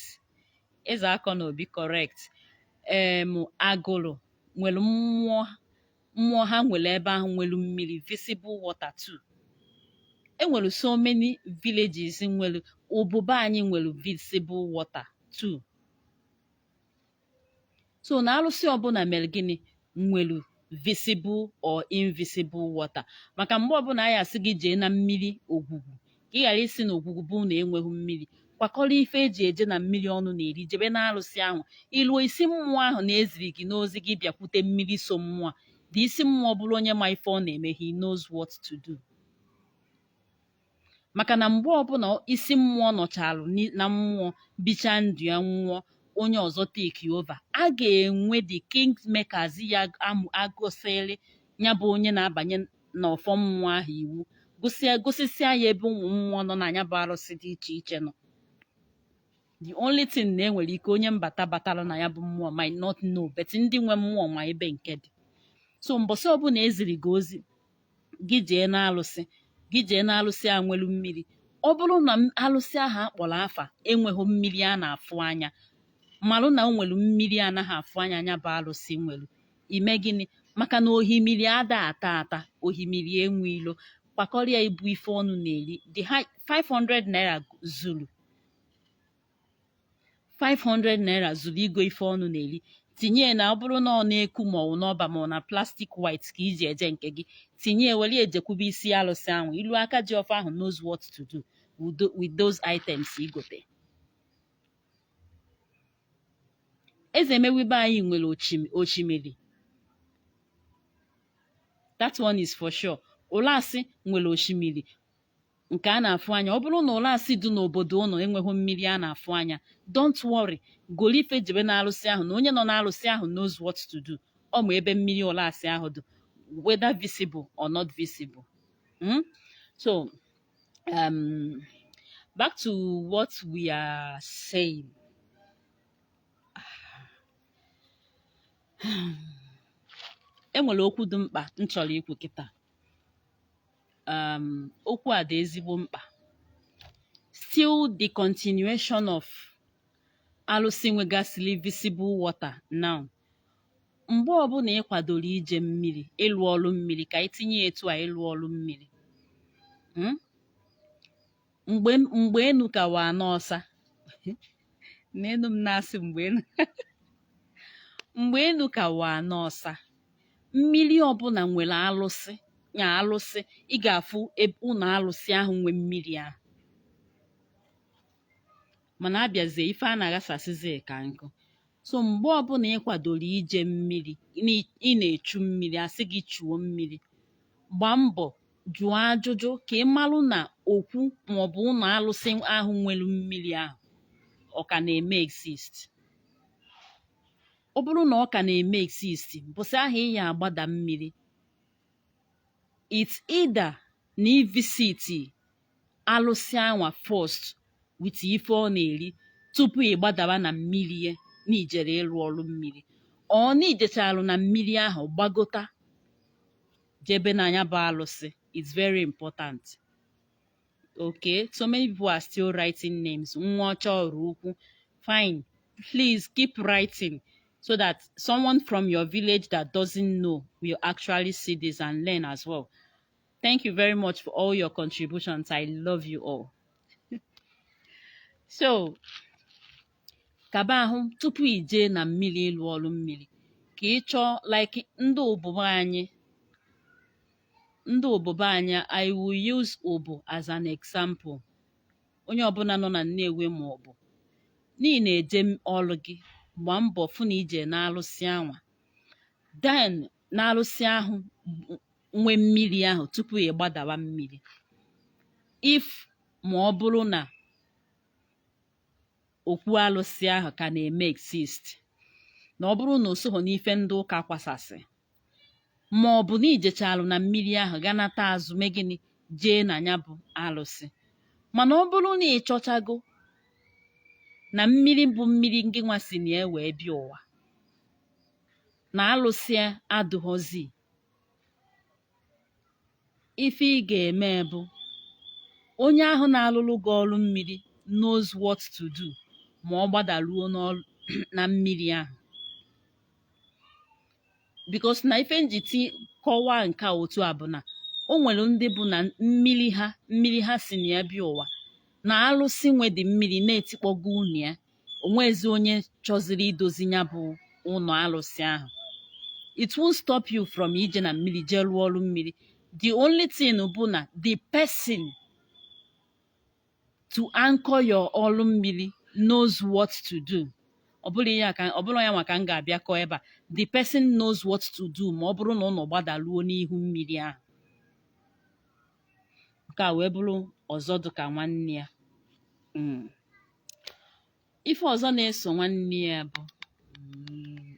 eze akọ na obi correct em agụlụ nwere mmụọ mmụọ ha nwere ebe ahụ nwere mmiri visible water too enwere so many villages nwere ụbụ be anyị nwere visible water too so na alụsị ọbụla mere gịnị nwere visible or invisible water maka mgbe ọbụla anyị asị gị jee na mmiri ogwugwu ka ị ghara ịsị na ogwugwu bụ na enweghị mmiri kwakọrọ ife eji eje na mmiri ọnụ na-eri jebe na alụsị ahụ i luo isi mmụọ ahụ na e ziri gị n'ozi gị bịakwute mmiri so mmụọ the isi mmụọ bụrụ onye ma ife ọ na-eme he knows what to do maka na mgbe ọbụla isi mmụọ nọchalụ ni- na mmụọ bicha ndụ ya nwụọ onye ọzọ take over a ga-enwe the king makers ya agụsịrị ya bụ onye na-abanye n'ọfọ mmụọ ahụ iwu gosia gosisia ya ebe ụmụ mmụọ nọ na ya bụ arụsị dị iche iche nọ the only thing na enwere ike onye mbata batara na ya bụ mmụọ might not know but ndị nwe mmụọ ma ebe nke dị so mbọsị ọbụla eziri gị ozi gị jee n'alụsị gị jee n'alụsị a nwelu mmiri ọ bụrụ na m- alụsị ahụ akpọrọ afa enweghị mmiri a na-afụ anya malụ na o nwere mmiri anaghị afụ anya nya bụ alụsị nwere i mee gịnị maka na ohimiri ada ata ata ohimiri enwe ilo kwakọrịa ibu ife ọnụ na-eri dị ka 500 naira zuru 500 naira zuru igo ife ọnụ na-eri tinye na ọ bụrụ na ọ n'eku ma ọ n'ọba ma ọ na plastic white ka i ji eje nke gị tinye were ejekwube isi alụsị ahụ i luo aka ji ọfọ ahụ knows what to do with those items i gote eze nnewi be anyị nwere osimiri that one is for sure ụlasị nwere osimiri nke a na-afụ anya ọ bụrụ na Ụlasị dị n'obodo ụnụ enweghị mmiri a na-afụ anya don't worry goro ife jebe n'alụsị ahụ na onye nọ n'alụsị ahụ knows what to do ọ ma ebe mmiri Ụlasị ahụ dị whether visible or not visible Hmm? so um, back to what we are saying enwere okwu dị mkpa m chọrọ ikwu kịta um okwu a dị ezigbo mkpa still the continuation of alụsị nwegasịrị visible water now mgbe ọbụla ị kwadoro ije mmiri ịlụ ọrụ mmiri ka itinye etu a ịlụ ọrụ mmiri hmm? mgbe mgbe enu ka wụ ana ọsa nenụ m na-asị mgbe enu mgbe enu ka wụ ana ọsa mmiri ọbụla nwere alụsị ya alụsị ị ga-afụ ụlọ alụsị ahụ nwe mmiri ahụ mana abịazie ife a na-aghasasịzi ka nkụ so mgbe ọbụla ị kwadoro ije mmiri n'ị- ị na-echu mmiri a sị gị chuo mmiri gbaa mbọ jụọ ajụjụ ka ị marụ na okwu maọbụ ụlọ alụsị ahụ nwere mmiri ahụ ọ ka na-eme exist ọ bụrụ na ọ ka na-eme exist mbọsị ahụ ị ya agbada mmiri it's either na i visit alụsị anwa first with ife ọ na-eri tupu ị gbadaba na mmiri ya na ijere ịrụ ọrụ mmiri or na i jecharụ na mmiri ahụ gbagota jebe na ya bụ alụsị it's very important okay so many people are still writing names Nwaọcha Ọraukwu fine please keep writing so that someone from your village that doesn't know will actually see this and learn as well Thank you very much for all your contributions. I love you all. so kaba ahụ tupu i jee na mmiri ịlụ ọrụ mmiri ka ị chọọ like ndị Ụbụ be anyị ndị Ụbụ be anyị I will use Ụbụ as an example onye ọbụla nọ na Nnewi ma ọ bụ n'ihi na-eje ọrụ gị gbaa mbọ fụ na i je n'alụsị anwa then n'arụsị ahụ nwe mmiri ahụ tupu ị gbadawa mmiri if ma ọ bụrụ na okwu alụsị ahụ ka na-eme exist na ọ bụrụ na o soghị n'ife ndị ụka kwasasị ma ọ bụ na i jechalụ na mmiri ahụ ga nata azụ mee gịnị jee na ya bụ alụsị mana ọ bụrụ na ị chọchago na mmiri bụ mmiri ngị nwa si na ya wee bịa ụwa na alụsị adụghọzi ife ị ga-eme bụ onye ahụ na-alụrụ gị ọrụ mmiri knows what to do ma ọ gbadaruo na mmiri ahụ because na ife njiti kọwaa nke a otu a bụ na o nwere ndị bụ na mmiri ha mmiri ha si na ya bịa ụwa na alụsị nwe the mmiri na etikpọgo ụnọ ya o nwezi onye chọziri idozi ya bụ ụlọ alụsị ahụ it won't stop you from ije na mmiri jee rụọ ọrụ mmiri the only thing bụ na the person to anchor your ọrụ mmiri knows what to do ọ bụrọ ya nwa ka m ga-abịa kọọ ebe a the person knows what to do ma ọ bụrụ na ụnụ gbadaruo n'ihu mmiri ahụ nke a wee bụrụ ọzọ dị ka nwanne ya mm. ife ọzọ na-eso nwanne ya bụ mm,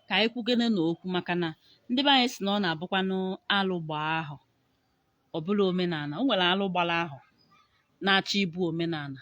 ka anyị kwugene na okwu maka na ndị be anyị sị na ọ na-abụkwanụ alụ gbaa ahọ ọ bụrụ omenala o nwere alụ gbara ahọ na-achọ ịbụ omenala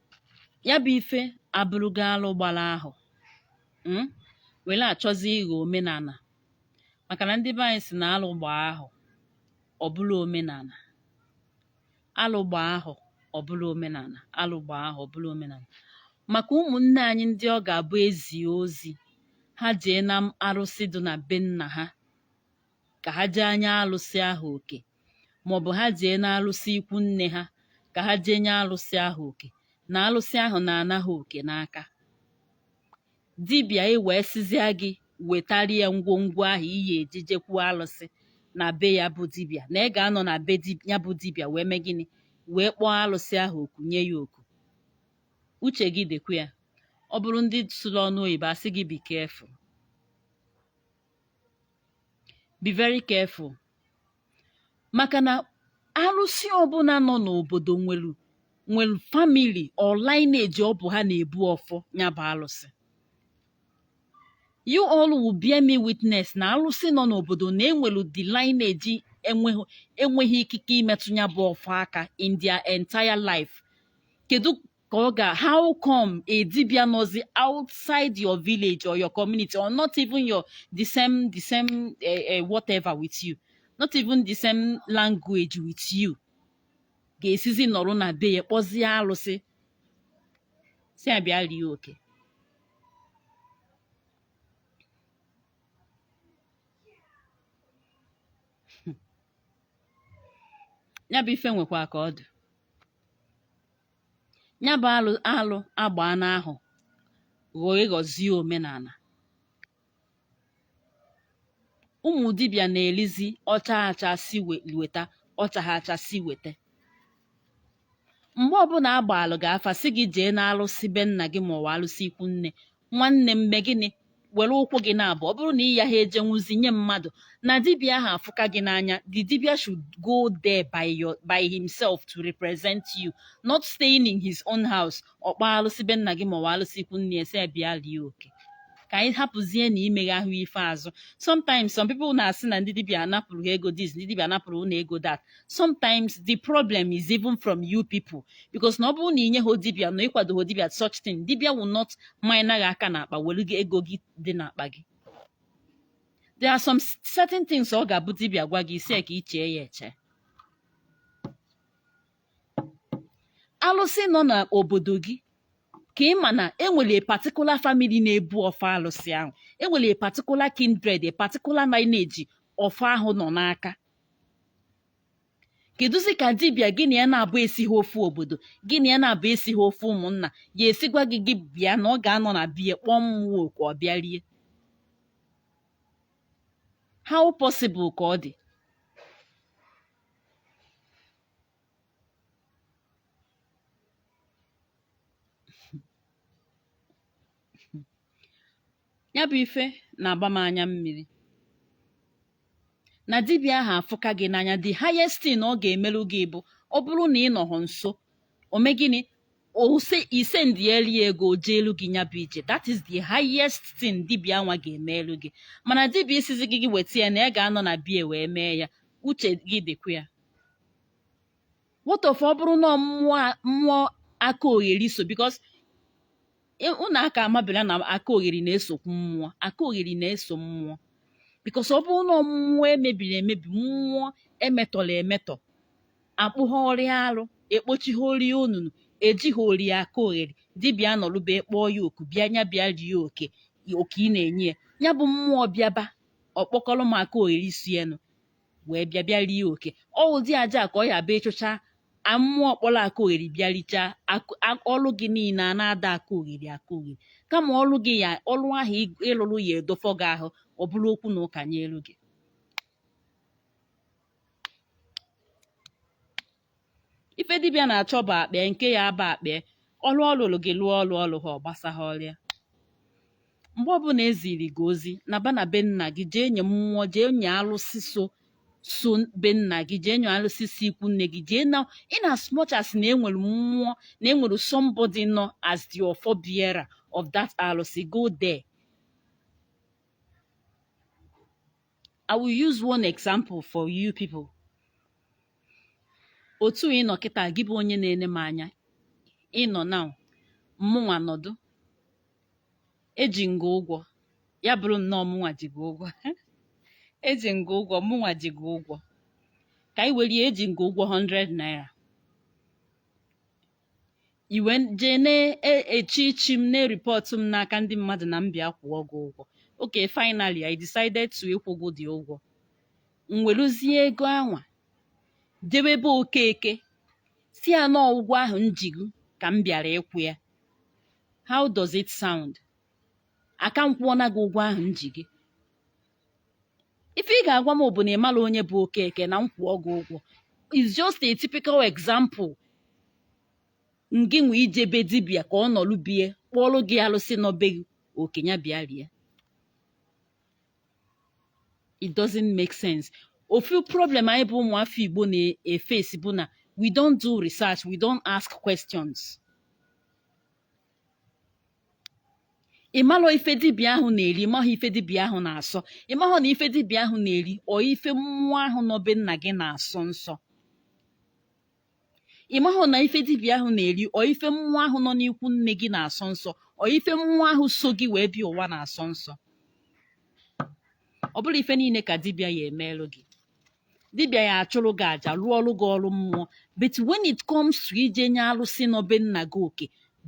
ya bụ ife abụrụgo alụ gbara ahọ mm, were achọzi ịghọ omenala maka na ndị be anyị sị na alụ gbaa ahọ ọ bụrụ omenala alụ gbaa ahọ ọ bụrụ omenala alụ gbaa ahọ ọ bụrụ omenala maka ụmụnne anyị ndị ọ ga-abụ ezie ozi ha jee na arụsị dị na be nna ha ka ha jee nye alụsị ahụ oke maọbụ ha jee n'alụsị ikwu nne ha ka ha jee nye alụsị ahụ oke na alụsị ahụ na-ana ha oke n'aka dibịa ewee sịzia gị wetara ya ngwongwo ahụ ị ya-eji jekwu alụsị na be ya bụ dibịa na ị ga-anọ na be di- ya bụ dibịa wee mee gịnị wee kpọọ alụsị ahụ oku nye ya oke uche gị dịkwa ya ọ bụrụ ndị sụrụ ọnụ oyibo asị gị be careful be very careful maka na arụsị ọbụla nọ n'obodo nwere nwere family or lineage ọ bụ ha na-ebu ọfọ ya bụ arụsị you all will bear me witness na arụsị nọ n'obodo na enwere the lineage enweghị enweghị ikike imetụ ya bụ ọfọ aka in their entire life kedu ka ọ ga how come a dibịa nọzi outside your village or your community or not even your the same the same uh, uh, whatever with you not even the same language with you ga-esizi nọrọ na be ya kpọzie alụsị sị ya bịa rie oke ya bụ ife nwekwa ka ọ dị nya bụ alụ alụ agbaana ahọ ghọọ ịghọzie omenala ụmụ dibịa na-elizi ọcha acha si we- weta ọcha ha acha si weta mgbe ọbụla agbaalụ gị afa sị gị jee n'alụsị be nna gị maọwa alụsị ikwu nne nwanne m mee gịnị were ụkwụ gị naabọ ọ bụrụ na ị yaha eje nwụzi nye mmadụ na dibịa ahụ afụka gị n'anya the dibịa should go there by your by himself to represent you not staying in his own house ọ kpọọ alụsị be nna gị maọwa alụsị ikwu nne ya sị ya bịa lie oke ka anyị hapụzie na imeghe ahụ ife azụ sometimes some people na-asị na ndị dibịa anapụrụ ha ego this ndị dibịa anapụrụ ha ego that sometimes the problem is even from you people because na ọ bụrụ na inyehọ dibia na ịkwadohọ dibia such thing dibia will not manye gị aka n'akpa welu gị ego gị dị n'akpa gị there are some s- certain things ọ ga-abụ dibia gwa gị ị sị ka i chee ya eche alụsị nọ n'obodo gị ka ị ma na enwere a particular family na-ebu ọfọ alụsị ahụ enwere a particular kindred a particular lineage ọfọ ahụ nọ n'aka kedụzi ka dibịa gị na ya naabọ esiha ofu obodo gị na ya naabọ esiha ofu ụmụnna ya esi gwa gị gị bịa na ọ ga-anọ na be ya kpọọ mmụọ oku ọ bịa rie how possible ka ọ dị nya bụ ife na-agba m anya mmiri na dibịa ahụ afụka gị n'anya the highest thing ọ ga-emerụ gị bụ ọ bụrụ na ị nọhọ nso o mee gịnị o se- i sendiere ya ego o jeelu gị nya bụ ije that is the highest thing dibịa nwa ga-emerụ gị mana dibịa ịsịzị gị gị weta ya na ya ga-anọ na bie wee mee ya uche gị dịkwa ya what of ọ bụrụ na mmụọ mmụọ aka ogheri so because ụnụ aka amabela na aka ogheri na-esokwu mmụọ aka ogheri na-eso mmụọ because ọ bụrụ na mmụọ emebiri emebi mmụọ emetọrọ emetọ akpụghọrọ ya arụ ekpochighọrọ ya onunu ejighọrọ ya aka ogheri dibịa nọrụ be ya kpọọ ya oku bịa nya bịa rie oke oke ị na-enye ya ya bụ mmụọ bịaba ọ kpọkọrọ ụmụ aka ogheri si enu wee bịa bịa rie oke ọ ụdị aja ka ọ ya-abụ ị chụchaa mmụọ kpọrọ aka ogheri bịa richaa ọlụ gị niile a na-ada aka ogheri aka ogheri kama ọlụ gị ya ọlụ ahụ ị lụrụ ya edofọ gị ahụ ọ bụrụ okwu na ụka nyelu gị ife dibịa na-achọ bụ akpịa nke ya aba akpịa ọrụ ọ lụrụ gị lụọ ọrụ ọ rụhọ ọ gbasahọrọ ya mgbe ọbụla eziri gị ozi naba na be nna gị jee nye mmụọ jee nye alụsị so so be nna gị jee nye alụsị si ikwu nne gị jee na in as much as na enwere mmụọ na enwere somebody nọ as the ọfọ bearer of that alụsị go there I will use one example for you people otu ị nọ kịta gị bụ onye na-ene m anya ị nọ na mụnwa nọdụ eji m gị ụgwọ ya bụrụ nnọọ mụnwa ji gị ụgwọ eji m gị ụgwọ mụnwa ji gị ụgwọ ka anyị were ya eji m gị ụgwọ 100 naira i wee jee na-echi ichi m na-eripọtụ m n'aka ndị mmadụ na m bịa kwụọ gị ụgwọ okay finally I decided to ịkwụ gị the ụgwọ m weluzie ego anwa jewe ebe okeke sị ya na ụgwọ ahụ m ji gị ka m bịara ịkwụ ya how does it sound aka m kwụọna gị ụgwọ ahụ m ji gị ife ị ga-agwa m bụ na ị marọ onye bụ okeke na m kwụọ gị ụgwọ is just a typical example ngịnwa ije be dibịa ka ọ nọlụ bie kpọọlụ gị alụsị nọ be gị oku na ya bịa rie it doesn't make sense ofu problem anyị bụ ụmụ afọ igbo na-efesi bụ na we don't do research we don't ask questions ịmalụ ife dibịa ahụ na-eri ị mahụ ife dibịa ahụ na-asọ ị mahụ na ife dibịa ahụ na-eri ọ ife mmụọ ahụ nọ be nna gị na-asọ nsọ ị mahụ na ife dibịa ahụ na-eri ọ ife mmụọ ahụ nọ n'ikwu nne gị na-asọ nsọ ọ ife mmụọ ahụ so gị wee bịa ụwa na-asọ nsọ ọ bụrọ ife niile ka dibịa ya emeelụ gị dibịa ya achụrụ gị aja rụọrụ gị ọrụ mmụọ but when it comes to ije nye alụsị nọ be nna gị oke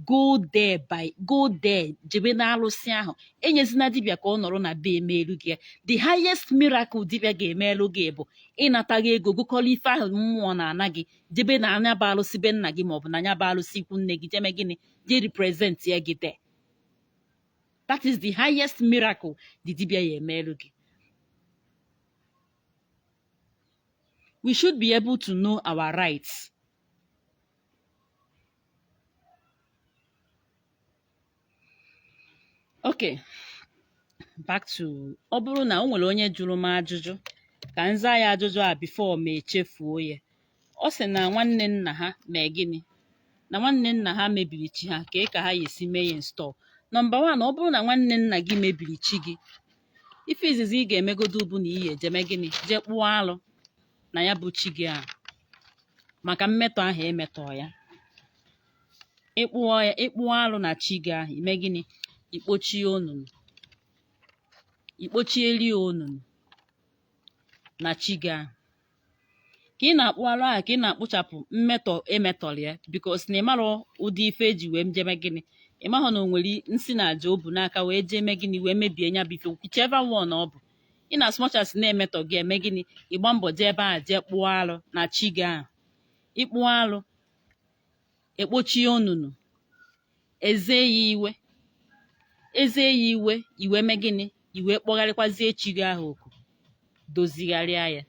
go there by go there jebe na alụsị ahụ enyezina dibịa ka ọ nọrọ na bie meelu gị ya the highest miracle dibịa ga-emeelu gị bụ ịnata gị ego gokọrọ ife ahụ mmụọ na-ana gị jebe na nya bụ alụsị be nna gị maọbụ na nya bụ alụsị ikwu nne gị je mee gịnị je representịa gị there that is the highest miracle the dibịa ya emeelu gị we should be able to know our rights okay back to ọ bụrụ na o nwere onye jụrụ m ajụjụ ka m zaa ya ajụjụ a before m echefuo ya ọ sị na nwanne nna ha mee gịnị na nwanne nna ha mebiri chi ha kee ka ha ya esi mee ya install nọmba wan ọ bụrụ na nwanne nna gị mebiri chi gị ife izizi ị ga-emegodo bụ na ị ya-eje mee gịnị jee kpụọ alụ na ya bụ chi gị ahụ maka mmetọ ahụ emetọ ya ịkpụọ alụ na chi gị ahụ i mee gịnị ikpochie onunu ikpochieli onunu na chi gị ahụ ka ị na-akpụ arụ ahụ ka ị na-akpụchapụ mmetọ emetọrọ ya because na ịmarọ ụdị ife eji wee jee mee gịnị ịmahụ na o nwere nsi na aja o bu n'aka wee jee mee gịnị wee mebie nya bụ ife whichever one ọ bụ in as much as na-emetọ gị eme gịnị ị gbaa mbọ jee ebe ahụ jee kpụọ arụ na chi gị ahụ ịkpụọ arụ ekpochie onunu eze ya iwe eze ya iwe i wee mee gịnị i wee kpọgharịkwazie chi gị ahụ oku dozigharịa ya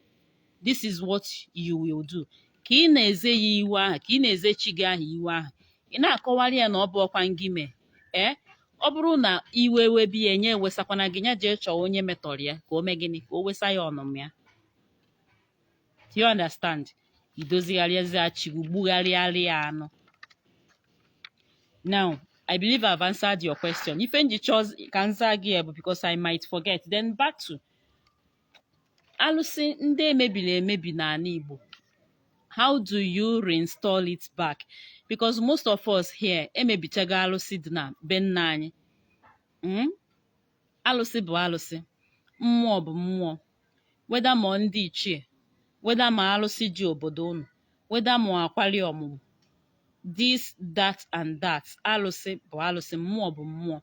this is what you will do ka ị na-eze ya iwe ahụ ka ị na-eze chi gị ahụ iwe ahụ ị na-akọwara ya na ọ bụọkwa ngị mee ee ọ bụrụ na iwe webe ya nya ewesakwana gị nya jee chọọ onye metọrọ ya ka o mee gịnị ka o wesa ya ọnụma ya you understand idozigharịazia chi gị gbugharịarị ya anụ now I believe I've answered your question ife m ji chọọ ka m zaa gị ya bụ because I might forget then back to alụsị ndị emebiri emebi n'ana Igbo how do you reinstall it back because most of us here emebichago alụsị dị na be nna anyị hmm? alụsị bụ alụsị mmụọ bụ mmụọ whether ma ọ ndị ichie whether ma alụsị ji obodo unu whether ma akwali ọmụmụ this that and that alụsị bụ alụsị mmụọ bụ mmụọ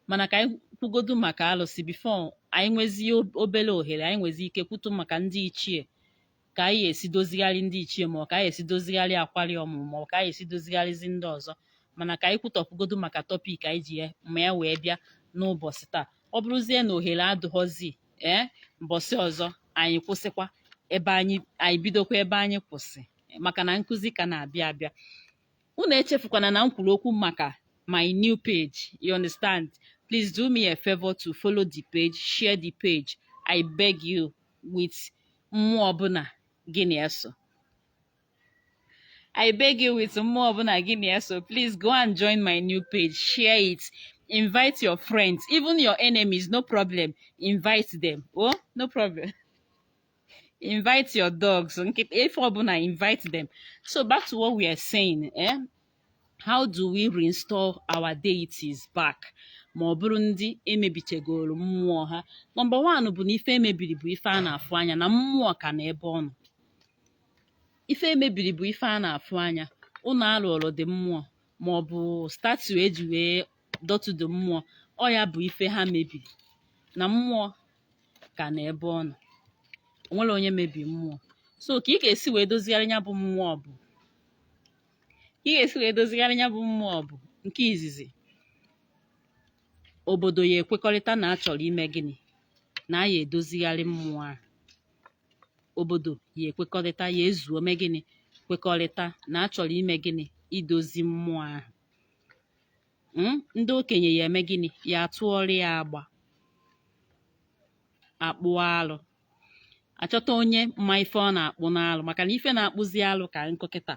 mana ka anyị kwugodu maka alụsị before anyị nwezie obere ohere anyị nwezie ike kwutu maka ndị ichie ka anyị esi dozigharị ndị ichie ma ọ ka anyị esi dozigharị akwari ọmụmụ ma ọ ka anyị esi dozigharịzi ndị ọzọ mana ka anyị kwutọpụgodu maka topic anyị ji maka ya wee bịa n'ụbọchị taa ọ bụrụzie na ohere adụghọzi ee mbọsị ọzọ anyị kwụsịkwa ebe anyị anyị bidokwa ebe anyị kwụsị maka na nkụzi ka na-abịa abịa unu echefukwana na m kwuru okwu maka my new page you understand please do me a favor to follow the page share the page i beg you with mmụọ ọbụla gị na ya so I beg you with mmụọ ọbụla gị na ya so please go and join my new page share it invite your friends even your enemies no problem invite them oh no problem invite your dogs nkịta ife ọbụla invite them so back to what we are saying eh? how do we reinstall our deities back ma ọ bụrụ ndị emebichegoro mmụọ ha number one bụ na ife emebiri bụ ife a na-afụ anya na mmụọ ka nọ ebe ọ nọ ife emebiri bụ ife a na-afụ anya ụnọ alụọrụ ndị mmụọ ma ọ bụ statue eji wee dọtụdo mmụọ ọ ya bụ ife ha mebiri na mmụọ ka nọ ebe ọ nọ o nwerọ onye mebiri mmụọ so ka ị ga-esi wee dozigharị ya bụ mmụọ bụ ị ga-esi wee dozigharị ya bụ mmụọ bụ nke izizi obodo ya ekwekọrịta na a chọrọ ime gịnị na a ya edozigharị mmụọ a obodo ya ekwekọrịta ya ezuo mee gịnị kwekọrịta na a chọrọ ime gịnị idozi mmụọ ahụ Mm, ndị okenye ya eme gịnị ya atụọrọ ya agba akpụọ alụ achọta onye ma ife ọ na-akpụ n'alụ maka na ife na-akpụzi alụ ka nkụ kịta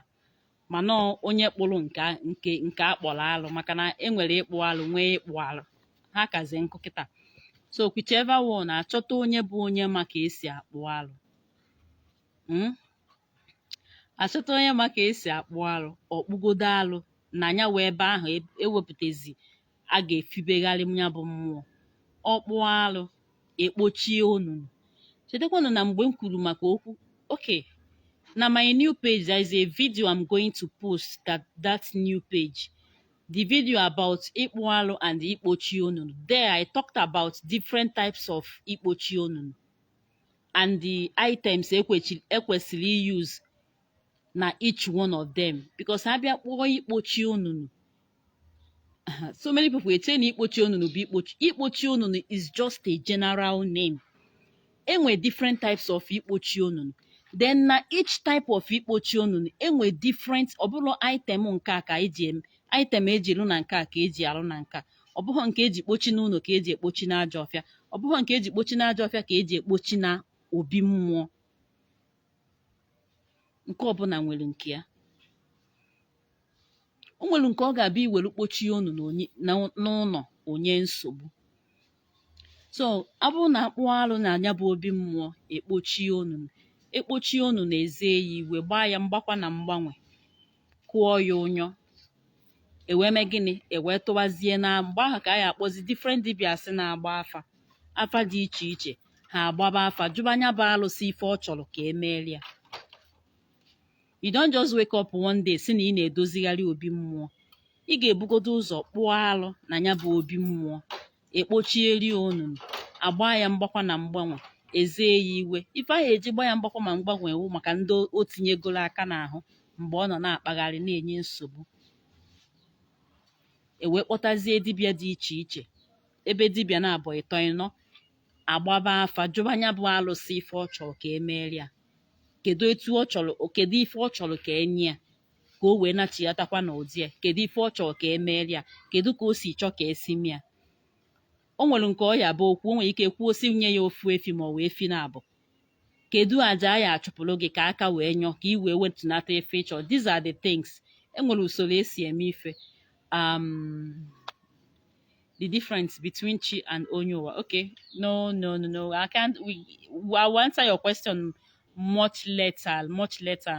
mana onye kpụrụ nke nke nke akpọrọ alụ maka na enwere ịkpụ alụ nwee ịkpụ alụ ha kazi nkụ kịta so whichever one achọta onye bụ onye ma ka esi akpụ alụ mm? achọta onye ma ka esi akpụ alụ ọ kpụgodo alụ na nya bụ ebe ahụ e- ewepụtazi a ga-efibegharị ya bụ mmụọ ọ kpụọ alụ ekpochie onunu chetakwanụ na mgbe m kwuru maka okwu okay na my new page there is a video i'm going to post that that new page the video about ịkpụ alụ and ikpochi onunu there i talked about different types of ikpochi onunu and the items ekwesịrị use na each one of them because a bịa kpọọ ikpochi onunu so many people eche na ikpochi onunu bụ ikpochi ikpochi onunu is just a general name enwe different types of ikpochi onunu then na each type of ikpochi onunu enwe different ọ bụrọ item nke a ka eji eme item eji rụ na nke a ka eji arụ na nke a ọ bụghị nke eji kpochi n'ụnọ ka eji ekpochi n'ajọ ọfịa ọ bụghị nke eji kpochi n'ajọ ọfịa ka eji ekpochi na obi mmụọ nke ọbụla nwere nke ya o nwere nke ọ ga-abụ i were kpochie onunu n'ụnọ onye nsogbu so ọ bụrụ na akpụọ arụ na nya bụ obi mmụọ ekpochie onunu ekpochie onunu na-eze ya iwe gbaa ya mgbakwa na mgbanwe kụọ ya ụnyọ ewee mee gịnị ewee tụwazie na mgbe ahụ ka a ya akpọzi different dibias na-agba afa afa dị iche iche ha agbaba afa jụba nya bụ alụsị ife ọ chọrọ ka emeeli ya you don't just wake up one day sị na ị na-edozigharị obi mmụọ ị ga-ebugodo ụzọ kpụọ alụ na nya bụ obi mmụọ ekpochieri onunu agba ya mgbakwa na mgbanwe eze ya iwe ife ahụ eji gba ya mgbakwa ma mgbanwe wụ maka ndị o tinyegoro aka n'ahụ mgbe ọ nọ na-akpagharị na-enye nsogbu ewee kpọtazie dibịa dị iche iche ebe dibịa naabọ ịtọ ịnọ agbaba afa jụba nya bụ alụsị ife ọ chọrọ ka emeere ya kedu etu ọ chọrọ kedu ife ọ chọrọ ka enye ya ka o wee nachiatakwa n'ụdị ya kedu ife ọ chọọ ka emeeli ya kedu ka o si chọọ ka esi mee ya o nwere nke ọ ya abụ okwu o nwere ike kwuo si nye ya ofu efi ma ọ wụ efi naabọ kedu aja a ya achụpụrụ gị ka aka wee nyọ ka ị wee wetunata ife ịchọ these are the things enwere usoro esi eme ife um, the difference between chi and onye ụwa okay no no no no i can't we, i will answer your question much later much later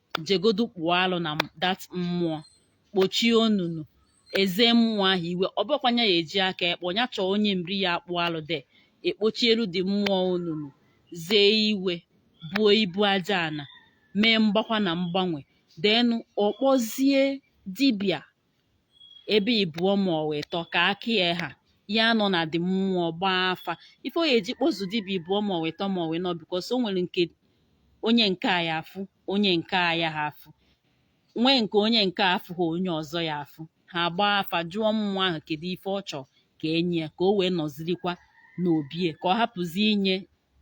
jegodu kpụọ alụ na that mmụọ kpochie onunu eze mmụọ ahụ iwe ọ bụkwanye ya eji aka ekpọ ya chọọ onye nri ya akpụọ alụ then ekpochielu the mmụọ onunu zee iwe buo ibu aja ana mee mgbakwa na mgbanwe then ọ kpọzie dibịa ebe ịbụọ ma ọ wụ ịtọ ka aka ya ha ya anọ na the mmụọ gbaa afa ife ọ ya eji kpọzuo dibịa ịbụọ ma ọ wụ ịtọ ma ọ wụ ịnọ because o nwere nke onye nke a ya afụ onye nke a yaha afụ nwee nke onye nke a afụha onye ọzọ ya afụ ha agbaa afa jụọ mmụọ ahụ kedu ife ọ chọọ ka enye ya ka o wee nọzirikwa n'obie ka ọ hapụzi inye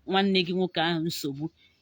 nwanne gị nwoke ahụ nsogbu